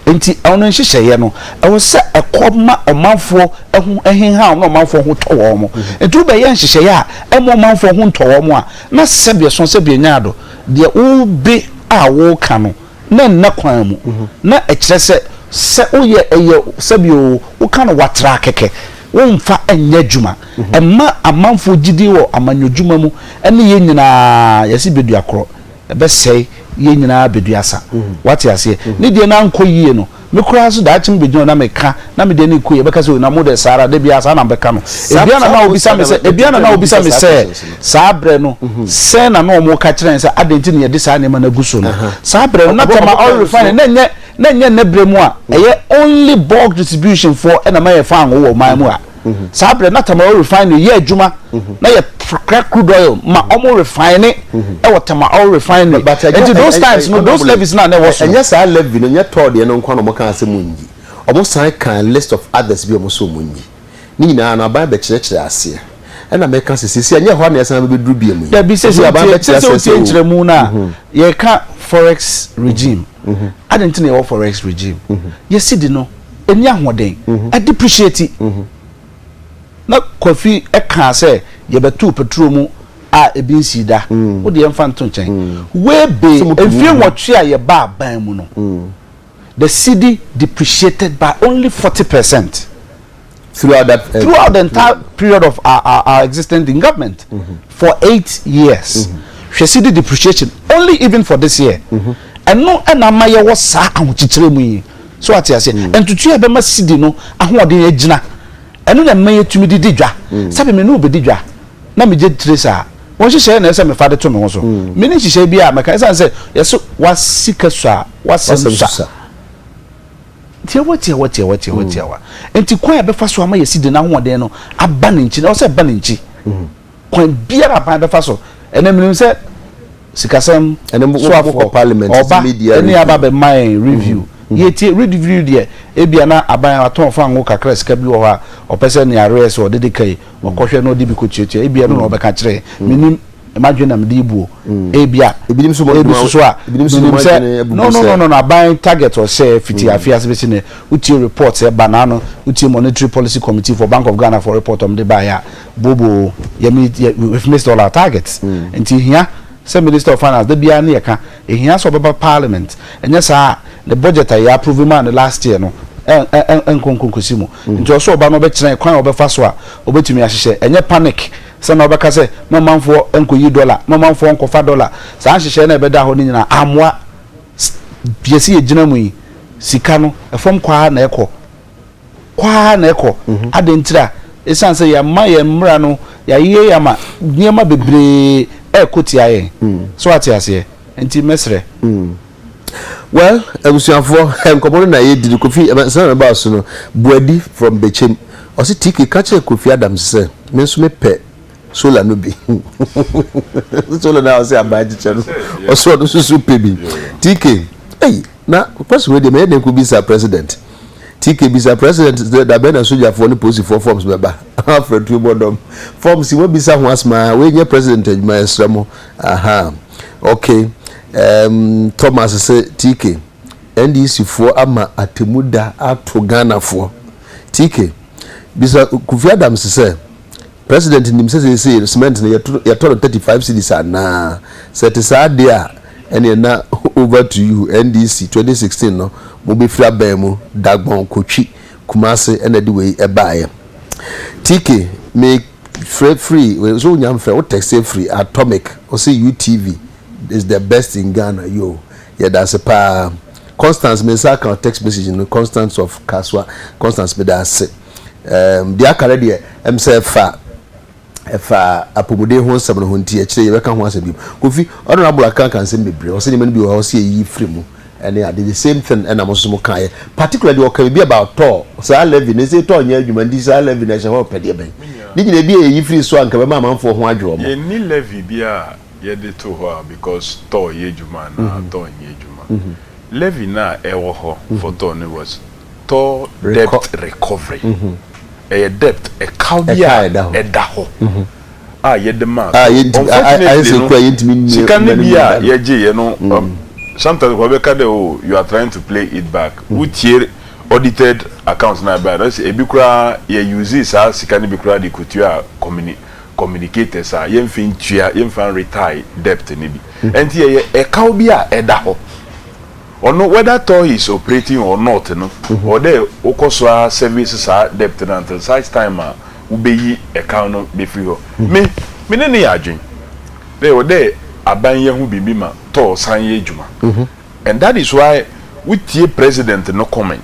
Nti ɔno nhyehyɛeɛ no, ɛwɔ sɛ ɛkɔ ma ɔmanfoɔ ho hehaw na ɔmanfoɔ ho tɔ wɔn. Nti wobɛyɛ nhyehyɛeɛ a ɛmma ɔmanfoɔ ho ntɔ wɔn a, Na sɛdeɛ sõ sɛ bianyaado deɛ wobe a woka no na nna kwan mu, na ɛkyerɛ sɛ sɛ woyɛ ɛyɛ sɛbi oo, woka no watraa kɛkɛ, womfa nyɛ adwuma. Ɛma amanfoɔ gyidie wɔ amanyɔdwuma mu ne yɛn nyinaa yɛse bɛdua korɔ, ɛbɛsɛe yɛn nyinaa bɛdua sa. Wate aseɛ? Ne deɛ na ankɔ yie no, Me koraa nso daakye mebegyina hɔ na meka na mede ani rekɔ yi, ɛbɛka sɛ, 'Oi, na mo deɛ saa ara, da biara saa na mobɛka no. Ebia na na wɔbisa me sɛ, ebia na na wɔbisa me sɛ, saa berɛ no, sɛn na na wɔreka kyerɛ yɛn sɛ adɛn nti na yɛde saa nneɛma no agu so no. Saa berɛ no, na Tama Oil Refinery, na ɛnyɛ, na ɛnyɛ nnɛ berɛ mu a ɛyɛ only bulk distribution foɔ na ɛma yɛfa ngo wɔ ɔman mu a. mhm. saa berɛ na tama oil refinery yɛ adwuma mhm. na yɛkra crude oil ma mhm. ɔmo refine ɛwɔ tama oil refinery nti those times no those levies na na ɛwɔ so ɛnyɛ saa levy no nyɛ tɔɔ deɛ no nkwa na ɔmo kan asɛ mu nyi ɔmo san kan list of others bi ɔmo so ɔmo nyi ne nyinaa no aban bɛkyerɛkyerɛ aseɛ ɛna mɛka sɛ sisi ɛnyɛ hɔ na ɛsan bɛbɛduru bi mu yi dabi sɛ sɛ wotie nkyerɛmu no a yɛka forex regime Adɛn nti na yɛwɔ forex regime? Yɛn cedi no nni ahoɔden, adepreciate. Na Kwafi kaa sɛ yɛbɛtoo petrol mu a ebi nsii da. Wo deɛ yɛmfa nto nkyɛn. Way bay, mfeɛ nwɔtwe a yɛbaa ban mu no, the cedi depreciated by only forty percent. throughout that uh, throughout the entire mm. period of our, our, our existence in government mm -hmm. for eight years mm-hmm. hwɛ si di depreciation only even for this year mm-hmm. ɛno ɛna ama yɛ wɔ saa ahokyekyerɛ mu yi so ate aseɛ mm. ntutu a ɛbɛma sidi no ahoɔden agyina ɛno na ɛma yɛtumi de di dwa mm. sɛbi me ne wobɛdi dwa na megye tire saa wɔn hyehyɛ na ɛsɛ mefa de to me ho so mm. me ne nhyehyɛ bi a mɛka ɛsiane sɛ yɛso wasika so a wasɛm so a Tiawa, tiawa, tiawa, tiawa, tiawa. Enti kwan a ɛbɛfa so ama yɛsi de n'ahoɔden no aba ne nkyi no, ɛwɔ sɛ ɛba ne nkyi. Kwan biara a ban bɛfa so. Ɛnɛ menim sɛ sikasɛm soafoɔ ɔba ne aba bɛma yɛn review. Yɛtie review deɛ, ebia na aban atɔn fango kakra sika bi wɔ hɔ a ɔpɛ sɛ nea arrears ɔde de ka yi, ɔkɔhwɛ na ɔde bi kɔtuatua. Ebia ɛno na ɔbɛka akyerɛ yɛn. Menim. M'adwene na mede rebu o. Ebia. Ebinom nso wɔn adwuma. Ebi so a. Ebinom nso wɔn adwene abubu sɛ. No no no no aban target ɔsɛ fiti afi ase bɛsi nɛ wotie report sɛ ba n'ano wotie monetary policy committee for bank of Ghana for report ɔmo de baayɛ a bobo yɛ mi yɛ we have missed all our targets nti hia sɛ minister of finance da biara ne yɛ ka ehia sɛ ɔbɛba parliament ɛnyɛ saa a ne budget a yɛ approve maa no last year no ɛ ɛ ɛnkɔ nkɔ nkɔsi mu nti ɔsɛ ɔba na ɔbɛkyerɛ kwan a ɔbɛfa so a ɔbɛtumi ahyehyɛ ɛnyɛ panic Sɛ na ɔbɛka sɛ ma ɔmanfoɔ nkɔyi dɔla, ma ɔmanfoɔ nkɔfa dɔla, saa nhyehyɛeɛ no a ɛbɛdaa hɔ no nyinaa ammoa. Yɛsi yɛgyina mu yi, sika no, fam kɔ ara na ɛkɔ. Kɔ ara na ɛkɔ. Adɛn nti a? Ɛsiane sɛ yɛama yɛn mmara no, yɛayeyɛ yɛ ama nneɛma bebree rekɔ tia yɛn. So ate aseɛ? Nti mɛsrɛ. Well abusuafoɔ nkɔmɔ no na yɛdi no Kofi ɛsɛn na ɛbaa so no Boadi from Bekyem ɔse TK ka kyerɛ Kofi Adams sɛ me nso me pɛ solar no bi solar no a ɔse aban akyekyɛ no ɔse ɔno nso so pɛ bi TK ei na question wei deɛ mɛyɛ dɛn kɔ bisa president TK bisa president sɛ da bɛn na sogyafoɔ ne polisifoɔ forms bɛba afra tuo bɔ dɔm forms yi wɔabisa ho asɛm aa wei nyɛ president adwuma yɛsrɛ mo ahaa okay Erm Thomas se TK, NDC foɔ ama atemu da ato Ghana foɔ. TK, bisa Kofi Adams sɛ, President nim sɛ seesei no cement no yɛtɔ no thirty five cedis anaa? Sɛ ɛte saa deɛ a, ɛneɛ na over to you NDC twenty sixteen no mo bɛfiri aban mu Dagbon kɔ Twi, Kumase na ɛde wei baeɛ. TK, me frɛ firi, so wonya mfrɛ, wo texte firi Atomic, ɔse UTV Is the best in Ghana yoo yɛdase paa Constance me nsa aka text message no Constance of Kasoa Constance medase um, deɛ aka no deɛ ɛm sɛ ɛfa ɛfa apɔmuden ho nsɛm no ho nti ɛkyerɛ yɛbɛka ho asɛm bi kofi ɔno abolo aka aka nsɛm bebree ɔsɛ nneɛma no bi wɔ hɔ sɛ yɛyi firi mu ɛne ade the same thing ɛna mo nso mo kaeɛ particular deɛ ɔka bi about tɔɔ saa levy ne sɛ tɔɔ nyɛ adwuma nti saa levy na ɛhyɛ hɔ pɛdeɛ bɛn ne nyina bi a yɛyi firi so anka bɛma amanfoɔ ho adwerɛ ɔmo yɛnni levy bi a Yɛde to hɔ a because tɔɔ yɛ adwuma anaa tɔɔ nyɛ adwuma. Levy no a ɛwɔ hɔ for tɔɔ no was tɔɔ debt recovery. Ɛyɛ debt, ɛkaw bi a ɛda hɔ a yɛde maa tɔɔ. Unfortunately no, sika no bi a yɛgyeeɛ no, sometimes nkurɔfoɔ bɛka dɛ oh you are trying to play it back. Wotie audited account no a ɛbaeɛ no, na kyerɛ sɛ ebi koraa yɛ use saa sika no bi koraa de kɔtua company. communicators a yɛmfa ntua yɛmfa nretae debt no bi ɛnti ɛyɛ ɛkaw bi a ɛda hɔ ɔno whether toi is operating or not no ɔwɔ dɛ wokɔ so ara service saa debt no until such time a wobɛyi ɛkaw no bɛfiri hɔ me me ne no yɛ adwen dɛ ɛwɔ dɛ aban yɛ ho biribi ma toi san yɛ adwuma and that is why wotie president no comment.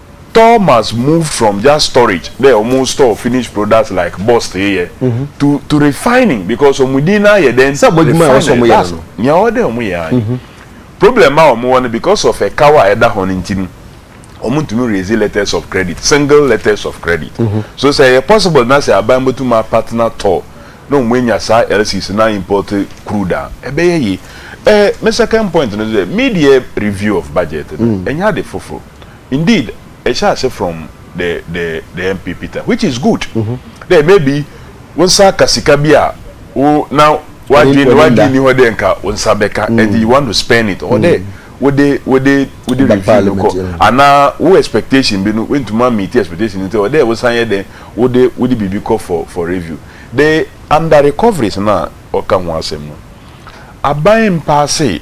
Thomas moved from just storage dɛ ɔmo store finished products like bust yi yɛ to to refining because ɔmo din no ayɛ dɛn? Sɛ bɔdwuma a ɛwɔ sɛ ɔmo yɛ no no. That's nea ɔwɔ dɛ ɔmo yɛ aane. Problem a ɔmo wɔ no because of ɛkaw a ɛda hɔ no nti no ɔmo ntumi raise letters of credit, single letters of credit. So sɛ ɛyɛ possible na sɛ aban bɛtumi a partner tɔɔ na ɔmo anya saa lcc no a import crude a ɛbɛyɛ yie. Eh, me second point no nso deɛ, me deɛ review of budget no ɛnyɛ ade foforo. Indeed ɛhyɛ ase from the the the MP Peter which is good dɛ maybe wo nsa aka sika bi a wo na w'adwene w'adwene nni hɔ dɛ nka wo nsa bɛka ɛnti you want to spend it or dɛ wode wode wode review no kɔ anaa wo expectation bi no woantumi a meet expectation no nti ɛwɔ dɛ wosan yɛ dɛn wode wode biribi kɔ for for review de under recoveries no a wɔka ho asɛm no aban mpaase.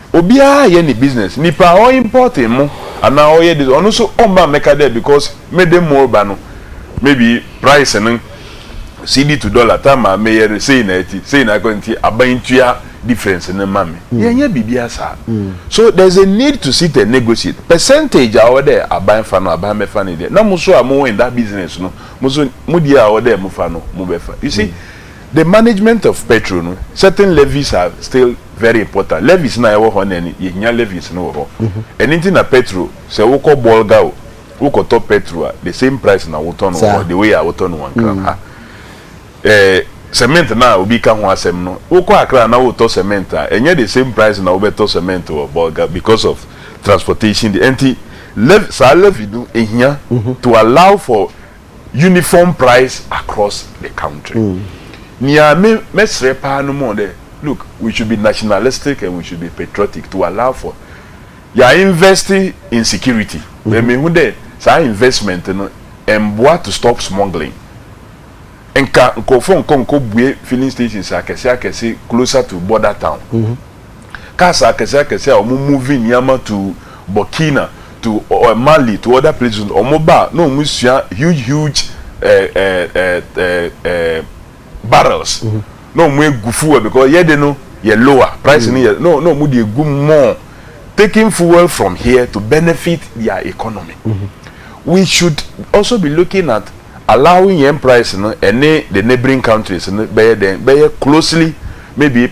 Obiara yɛ ne business nipa a ɔ import mmo anaa ɔyɛ this ɔno nso ɔmma mmɛka dɛ because mede mmo reba no maybe price no cedi to dollar time a meyɛ no sei na ɛte sei na ɛkɔ nti aban ntua difference no mma me yɛn nyɛ biribiara saa so there is a need to sit and negotiate percentage a ɔwɔ dɛ aban fa no aban bɛfa ne deɛ na mo nso a mo wɔ in that business no mo nso mo deɛ a ɔwɔ dɛ mo fa no mo bɛfa you see. The management of petrol no certain levies are still very important levies no a ɛwɔ hɔ nnɛ no yɛhia levies no wɔ hɔ ɛno nti na petrol sɛ wokɔ bolga o wokɔtɔ petrol a the same price na wotɔ no wɔ hɔ the way a wotɔ no wɔ nkran ha ɛɛ cement no a obi ka ho asɛm no wokɔ akra na wotɔ cement a ɛnyɛ the same price na wobɛtɔ cement wɔ bolga because of transportation de ɛnti levy saa levy no ɛhia to allow for uniform price across the country nea me mɛsrɛ paa no mo dɛ look we should be nationalistic and we should be patriotic to allow for yɛ a invest in security but me hu dɛ saa investment no ɛmboa to stop smuggling nka nkorɔfoɔ nkɔ nkɔ bue filling stations akɛse akɛse closer to border town. Cars akɛse akɛse a wɔn movie nneɛma to Burkina to ɔɛ Mali to other places no wɔn ba a na wɔn sua huge huge ɛɛ ɛɛ ɛɛ ɛɛ ɛɛ barrels na wɔn egu fuel because yɛ de no yɛ lower price no yɛ na na wɔn de egu mu more taking fuel from here to benefit their economy we should also be looking at allowing yɛn price no ɛne the neighbouring countries no bɛyɛ dɛn bɛyɛ closely maybe.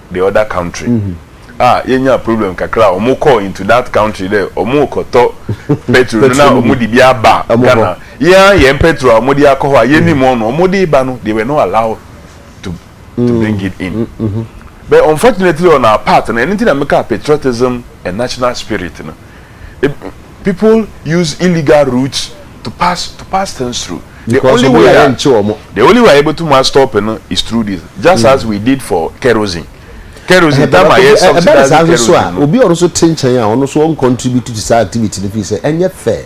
the other country a yɛnyaa problem kakra a wɔn kɔɔ into that country dɛ wɔn rekɔtɔ petrol no na wɔn de bi aba Ghana yɛn ara yɛn petrol a wɔn de akɔ hɔ a yɛn nim wɔn no wɔn de ba no they were not allowed to to bring it in but unfortunately on our part no ɛno nti na meka patriotism and national spirit no. people use illegal route to pass to pass things through the only way a the only way a yɛbɛtum a stop no is through this just as we did for kerosene kerosene time a yɛ subsidize kerosene no obi a ɔno nso te nkyɛn a ɔno nso ɔn contribute to saa activity no fi sɛ ɛnyɛ fair.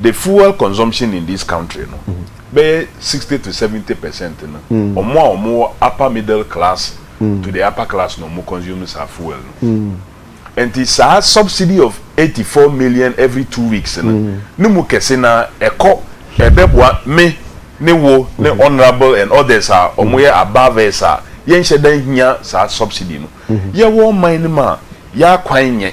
The fuel consumption in this country no, bɛyɛ sixty to seventy percent no, ɔmo a ɔmo wɔ upper middle class to the upper class na ɔmo consume saa fuel no. Ɛnti saa subsidy of eighty four million every two weeks no, ne mu kɛse no ara ɛkɔ ɛbɛboa me ne wo ne honourable and others a ɔmo yɛ above us a yɛnhyɛ da nhia saa subsidy no. Yɛwɔ ɔman no mu a, yɛakwan nyɛ.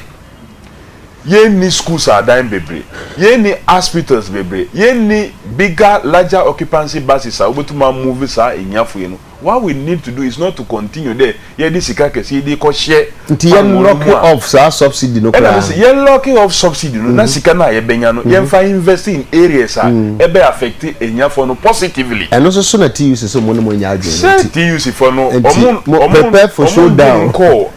Yɛnni schools adan bebree, yɛnni hospitals bebree, yɛnni bigger, larger occupancy buses a wobɛtumi a move saa ahiafo yi no, what we need to do is not to continue dɛ yɛde sika kɛseɛ yi de rekɔhyɛ pango no mu a, ɛna mese yɛ locking off subsidy no na sika no a yɛbɛnya no yɛmfa invest in areas a ɛbɛ affect ahiafoɔ no positively. Ɛno nso so na TUC sɛ wɔn ne wɔn nyɛ adwene no nti. Sɛ TUC foɔ no wɔn wɔn wɔn ntumi nkɔɔ.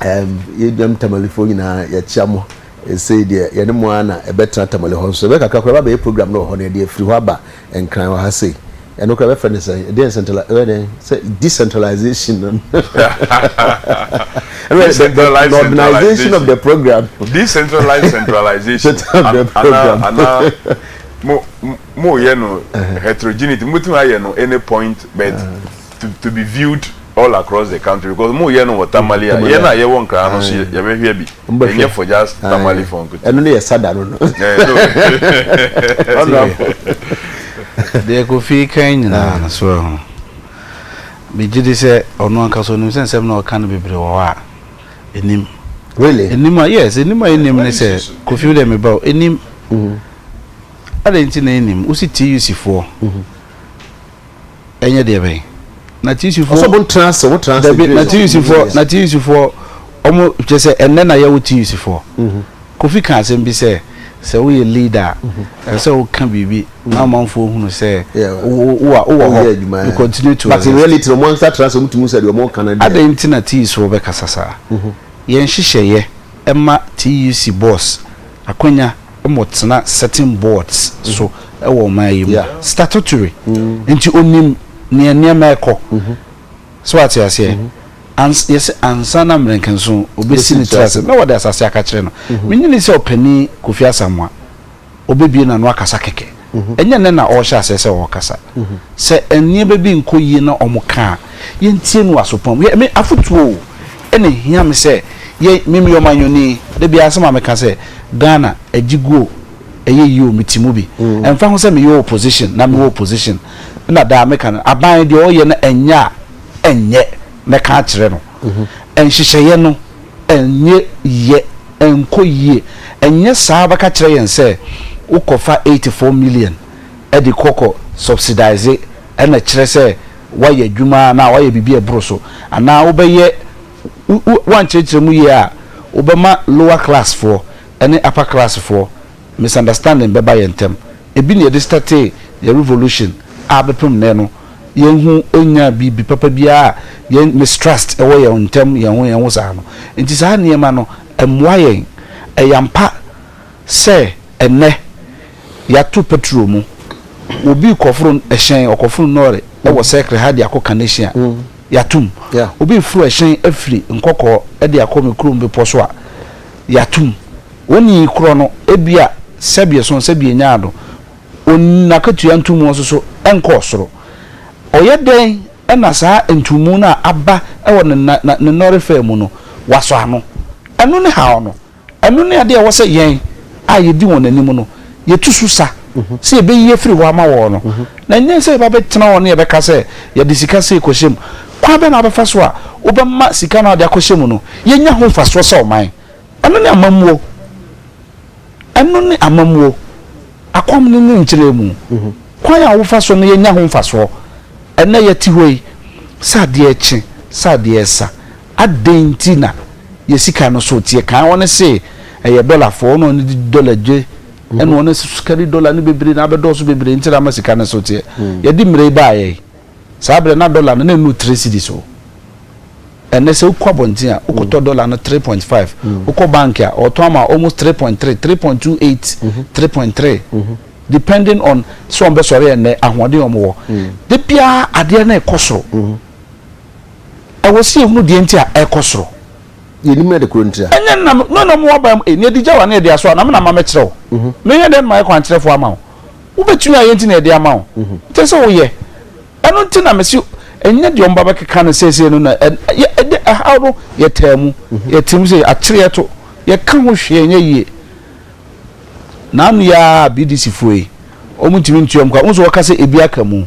ɛɛm, yɛduam Tamalefoɔ nyinaa, yɛkyea mo. Sei deɛ, yɛne mo ara na ɛbɛtena Tamale hɔ nso. Ɛbɛyɛ kakra koraa, ɛbɛba abɛyɛ program no wɔ hɔ na yɛde afiri hɔ aba Nkran wɔ ha sei. Ɛno koraa yɛbɛfrɛ no sɛn? Ɛdeɛn central, ɛbɛyɛ dɛn? Sɛ decentralization no. Ɛbɛyɛ the, the, the organization of the program. Decentralized centralization. Ana, program. ana, mo, mo yɛ no heterogeneity. Mo tumi ayɛ no any point, but to to be viewed all across the country because mo yɛ no wɔ tamale a yɛn a yɛwɔ nkran no so yɛ bɛ hwɛ bi ɛnyɛ for just tamale for nkutu ɛno ne yɛ sada no no deɛ kofi kan nyinaa no so ɛho megye di sɛ ɔno ankasa onim sɛ nsɛm na ɔka no bebree wɔ hɔ a ɛnim really ɛnim a yes ɛnim a ɛnim ne sɛ kofi wo dɛ meba ɛnim adɛn nti na ɛnim wosi tuc foɔ ɛnyɛ deɛ bɛn na tisifoɔ ɔsɛ ɔmo ntena ase ɔmo tena ase dabi na tisifoɔ na tisifoɔ ɔmo kyɛ sɛ ɛnɛ na yɛwɔ tisifoɔ mhm. kofi ka asɛm bi sɛ sɛ woyɛ leader a mhm. ɛsɛ sɛ woka biribi mhm. na amanfoɔ hunu sɛ wowɔ hɔ you continue to but in reality ɔmo ankasa tena ase ɔmo tumi sɛ deɛ ɔmo ka no deɛ adɛn nti na tisifoɔ bɛkasa saa yɛn hyehyɛeɛ ɛma tuc boss akwanya mo tena certain boards so wɔ ɔman yi mu yeah statutory nti onim nea nneɛma ɛkɔ so ate aseɛ mm -hmm. Ans, yɛsɛ ansa na mmerɛnkɛnso obɛsi ne tiri ase na wɔde asase aka kyerɛ no menyini sɛ ɔpani kofi asamoa ɔbɛbie na no akasa kɛkɛ Ɛnyɛ nnɛ na ɔrehyɛ aseɛ sɛ ɔrekasa. Sɛ nneɛma bi nkɔ yie na wɔka a, yɛntie no wɔ aso pa mu. Hwɛ, me afotuo o, na ɛhia me sɛ yɛ, me meyɛ ɔmanyɔni, da biara asɛm a meka sɛ, Ghana, agye gu o, ɛyɛ yie o, mete mu bi. Ɛmfa ho sɛ meyɛ opposition na mewɔ opposition, na daa meka no, aban deɛ ɔreyɛ no ɛnyɛ a, ɛnyɛ, mɛka akyerɛ no. Nhyehyɛeɛ no. Ɛnyɛ yɛ ɛnkɔ yie. Ɛnyɛ saa bɛka kyerɛ yɛn sɛ wokɔ fa eighty four million de kɔ kɔ subsidise ɛna kyerɛ sɛ wayɛ adwuma anaa wayɛ biribi a ɛboro so anaa wobɛyɛ wo wo ankyerɛkyerɛ mu yie a wobɛma lower class foɔ ne upper class foɔ misunderstanding bɛba yɛn ntam. Ebi na yɛde startee yɛn revolution a bɛpem nnɛ no, yɛn ho nnyaa biribi papa biara a yɛn mistrust wɔ yɛn ntam yɛn ho yɛn ho saa no. Nti saa nneɛma no, ɛmmoa yɛn. Ɛyɛ ampa sɛ ɛnnɛ yɛato petrol mu. Obi rekɔforo ɛhyɛn, ɔkɔforo nɔɔre wɔ circle ha de akɔ Kaneshie a, yɛatom. Obi reforo ɛhyɛn afiri Nkɔkɔɔ de akɔ me kurom bepɔ so a, yatum. Woni yi korɔ no ebia sɛ bia sɔn sɛ bia nyaa do on n'akatua ntumu ɔsoso nkɔɔ soro. Ɔyɛ dɛn na saa ntumu no a aba wɔ ne na na ne nɔre fɛ mu no wasɔ ano? Ɛno ne haw no. Ɛno ne adeɛ a ɛwɔ sɛ yɛn a yɛdi wɔn anim no yɛtu so sa sɛ yɛbɛyi afiri hɔ ama wɔn no, na ɛnyɛ sɛ yɛba bɛtena hɔ na yɛbɛka sɛ yɛde sika sei kɔhyɛ mu. Kwan bɛn na wobɛfa so a wobɛma sika no a wode akɔhyɛ mu no yɛnya ho mfasoɔ sɛ ɔman? Ɛno ne amammuo. Ɛno ne amammuo. Akwam no ne nkyerɛmu. Kwan a wofa so no yɛnya ho mfasoɔ. Ɛnnɛ yɛte hɔ yi, sɛ adeɛ rekye, sɛ adeɛ resa, Adɛn nti na yɛ sika no so teɛ? Kan wɔn se ɛyɛ dɔla foɔ, wɔn a wɔn de dɔla dwe, ɛna wɔn nso sika ne dɔla no bebree na abɛdɔɔso bebree nti na ama sika no so teɛ. Hmm. Yɛde mmerɛ yi baayɛ yi, saa berɛ na dɔla no na ɛnu three cedis o. Ɛnɛ sɛ wokɔ abɔnten a, wokɔtɔ hmm. dɔla no three point five, hmm. wokɔ bank a, ɔtɔn ama almost three point three, three point two eight, mhm. three point three. Mhm. Depending on sɛ wɔn bɛsɔre ɛnɛ ahoɔden wɔn wɔ. De biara adeɛ na ɛkɔ soro. Mhm. Ɛwɔ sɛ yɛhunu deɛ nti a ɛrekɔ soro. Yɛnnim na de korɔ nti a. Ɛnyɛ nna me no na moaba mu e, na ɛde gya wo anaa ɛde asɔ a, na me na mma mɛkyerɛ wo. Menyɛ dɛn na mayɛ kwankyerɛfoɔ ama wo? Wobɛtumi ayɛ nti na yɛde ama wo. Ɛkyerɛ sɛ woyɛ. Ɛno nti na mese ɛnyɛ deɛ wɔba bɛkeka no seesei no na ɛde ɛhaw no, yɛtaa mu, yɛte mu sei, akyere yɛto, yɛka ho hwee nyɛ yie. Naano yi ara a BDC foɔ yi, wɔntumi ntua wɔn ka. Wohu sɛ wɔka sɛ ebi aka mu.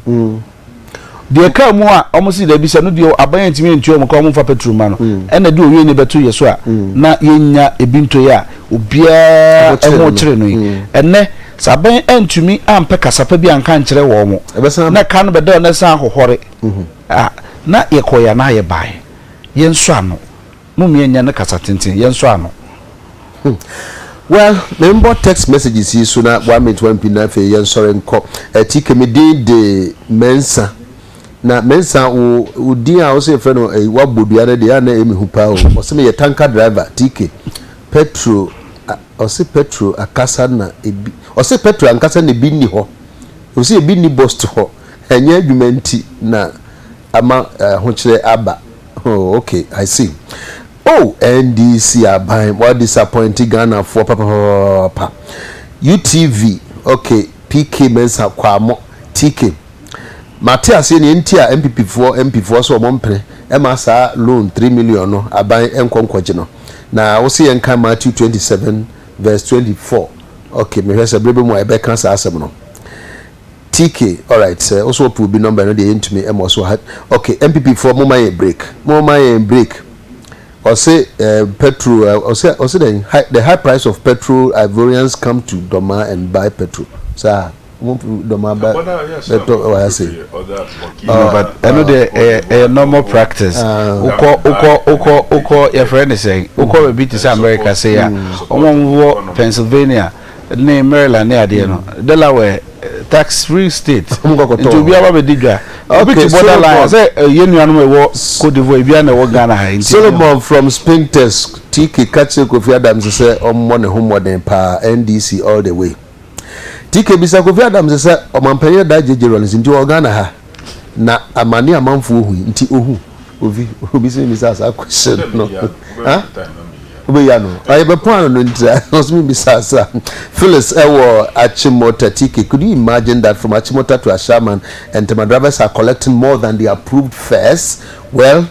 Deɛ ɛkaa mu a wɔn si daabi sɛ no deɛ aban antumi antua wɔn ka wɔn mfa petrol mma no mm. ɛna de owie ne bɛto yɛ so a mm. na yɛnya ebi ntoyɛ a obiara ɛho kyerɛ no yi mm. ɛnɛ sɛ aban antumi ampɛ kasapa bi anka nkyerɛ wɔn na ka no bɛda wɔn san ahohɔre mm-hmm. a na yɛkɔ yɛ anaa yɛ baeɛ yɛn nso ano Mummia nnya no kasa tenten, yɛnsɔ ano. Hmm. Well, me mbɔ text messages yi so na one minute one pin na afei yɛnsɔre nkɔ. Eh, TK, me din de Mensah. Na Mensah, wo, wo din a wose yɛfrɛ no eh, wabɔ dua no deɛ, ɛyɛ a na ɛyɛ me hu paa o. Ɔse meyɛ tanker driver, TK. Petro, a, ɔse petro akasa na ebi, ɔse petro ankasa na ebi nni hɔ. Ɔse ebi nni bust hɔ. Ɛnyɛ adwuma nti na. Ama ahokyerɛ aba oh ok I see oh NDC aban wa disappoint Ghana foɔ papapapapa UTV ok PK Mensah Kwamo TK Mate aseɛ neɛ nti a NPP foɔ MP foɔ sɛ ɔmo mpene ɛma saa loan three million no aban nkɔ nkɔgye no na wose yɛn kan Matthew twenty seven verse twenty four ok mehwɛ sɛ bere bɛ mu a yɛbɛ ka saa asɛm no TK, alright sɛ wo so wɔpɛ obi number ɛno deɛ yɛntumi ɛma ɔso ha ok NPP foɔ moma yɛn break moma yɛn break ɔse eh, petrol eh, ɔse ɔse dɛn high, the high price of petrol Ivorians come to Doma and buy petrol saa mo Doma ba bɛtɔ ɛwɔ ha sei No, Ah, but ɛno deɛ ɛyɛ ɛyɛ normal practice wokɔ wokɔ wokɔ wokɔ yɛfrɛ ne sɛn wokɔ baabi te sɛ america sei a wɔn a wɔwɔ pennsylvania ne Maryland ne adeɛ no mm. Delaware tax free state nti obi aba bɛ di dwa obi ti border line sɛ yɛ nuanom ɛwɔ Cote d'Ivoire ebi ana ɛwɔ Ghana ha nti. Solomon from Spintex TK kakyere Kofi Adams sɛ ɔmmɔ ne ho mmɔden paa NDC all the way TK bisa Kofi Adams sɛ ɔmampanyin da gyegye rɔlins nti wɔ Ghana ha. Na amane a amanfoɔ hui nti ɔhu. Obi, obi sɛ memmisa saa question no. Ha? Wobɛyia no. Ah, yɛbɛpɔn ano no nti a, ɔsɛ memmisa saa. Phyllis ɛwɔ Achimota TK, could you imagine that from Achimota to Ashaiman, Ntɛmaduraba sɛ are collecting more than the approved fares? Well,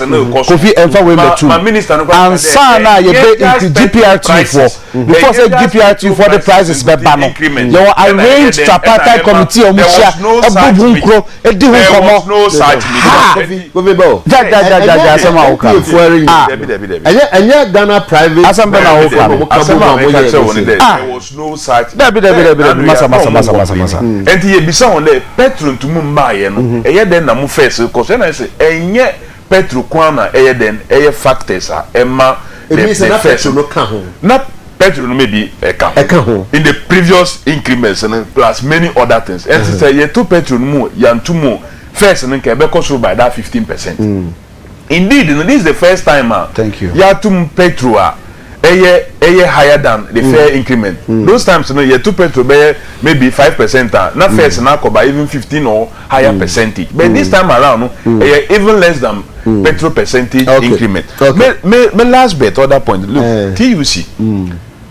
Kofi ɛnfa wei mɛ tum ansa na yɛ bɛ increase GPRT foɔ before sɛ GPRT foɔ de prices bɛ ba no yɛ wɔ arrange tripartite committee a wɔn hyia ɛbɔ bu nkuro ɛdi ho nkɔmɔ haa jajajajaja asɛm a wɔka ah ɛnyɛ ɛnyɛ Ghana private asɛm bɛ na wɔka no asɛm a wɔka kyerɛ wɔn dɛ ah. no such thing. Dabi dabi dabi dabi masa masa masa masa masa. Ɛnti yɛ bisa wɔn dɛ Petro ntumi mmaa yɛ no mhm. ɛyɛ dɛn na mo fɛs kɔ so ɛna ɛsɛ ɛnyɛ Petro kwan na ɛyɛ dɛn ɛyɛ factors a ɛma the the first na Petro no maybe ɛka ho ɛka ho in the previous increments no plus many other things ɛnti mhm. sɛ yɛ to Petro no mu yantu mu first no nka ɛbɛkɔ soro by that fifteen percent. Mm. Indeed no this is the first time a y'atum petrol a ɛyɛ ɛyɛ higher than the fare increment those times no yɛto petrol bɛyɛ maybe five percent a na fares no akɔ ba even fifteen or higher percentage but this time around no ɛyɛ even less than petrol percentage increment me me me last bet other point look TUC.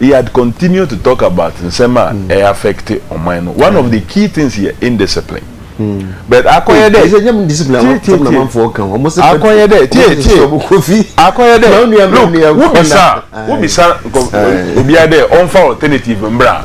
he had continued to talk about nsɛm a ɛyɛ affect ɔman no one of the key things yɛ indiscipline but akɔyɛ dɛ ɛsɛ nyɛ discipline tie tie tie amanfoɔ kan wɔn sɛ akɔyɛ dɛ tie tie akɔyɛ dɛ look wobisa wobisa nkɔ obiara dɛ ɔnfa alternative mbra.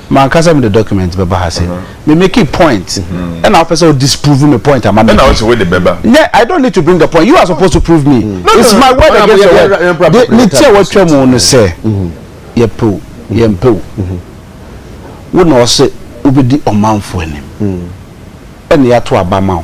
M'ankasa mede document bɛba ha se me makee point ɛna wopɛ sɛ wo disprove me point a ma make. Ɛna wose wode bɛba. Nyɛ I don't need to bring a point you are supposed to prove me it's my word against your word de ne ti a watwa mu no sɛ yɛpɛ o yɛmpɛ o wo na ɔse wobɛdi ɔmanfo anim ɛna yɛato aba ma wo.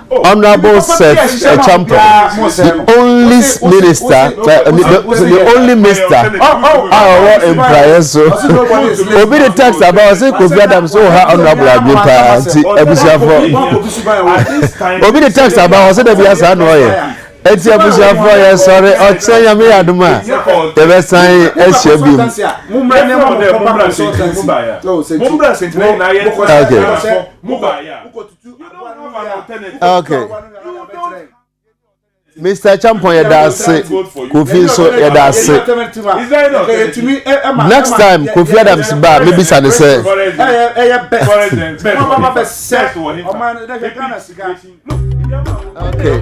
Honourable Seth Acheampong, the only minister, the only minister a ɔwɔ mpraeɛ so. Obi de text aba ɔsɛ Kofi Adams wɔ ha honourable adwene paa nti abusuafo. Obi de text aba ɔsɛ dɛbi asaa na ɔyɛ. Eti abusuafo yɛ sɔre ɔkyerɛ nyame yɛ adom a yɛbɛsan ahyia bi mu. Okay. okay mr champon yɛ da ase kofi nso yɛ da ase next time kofi adams ba mi bisa ne sɛ. okay.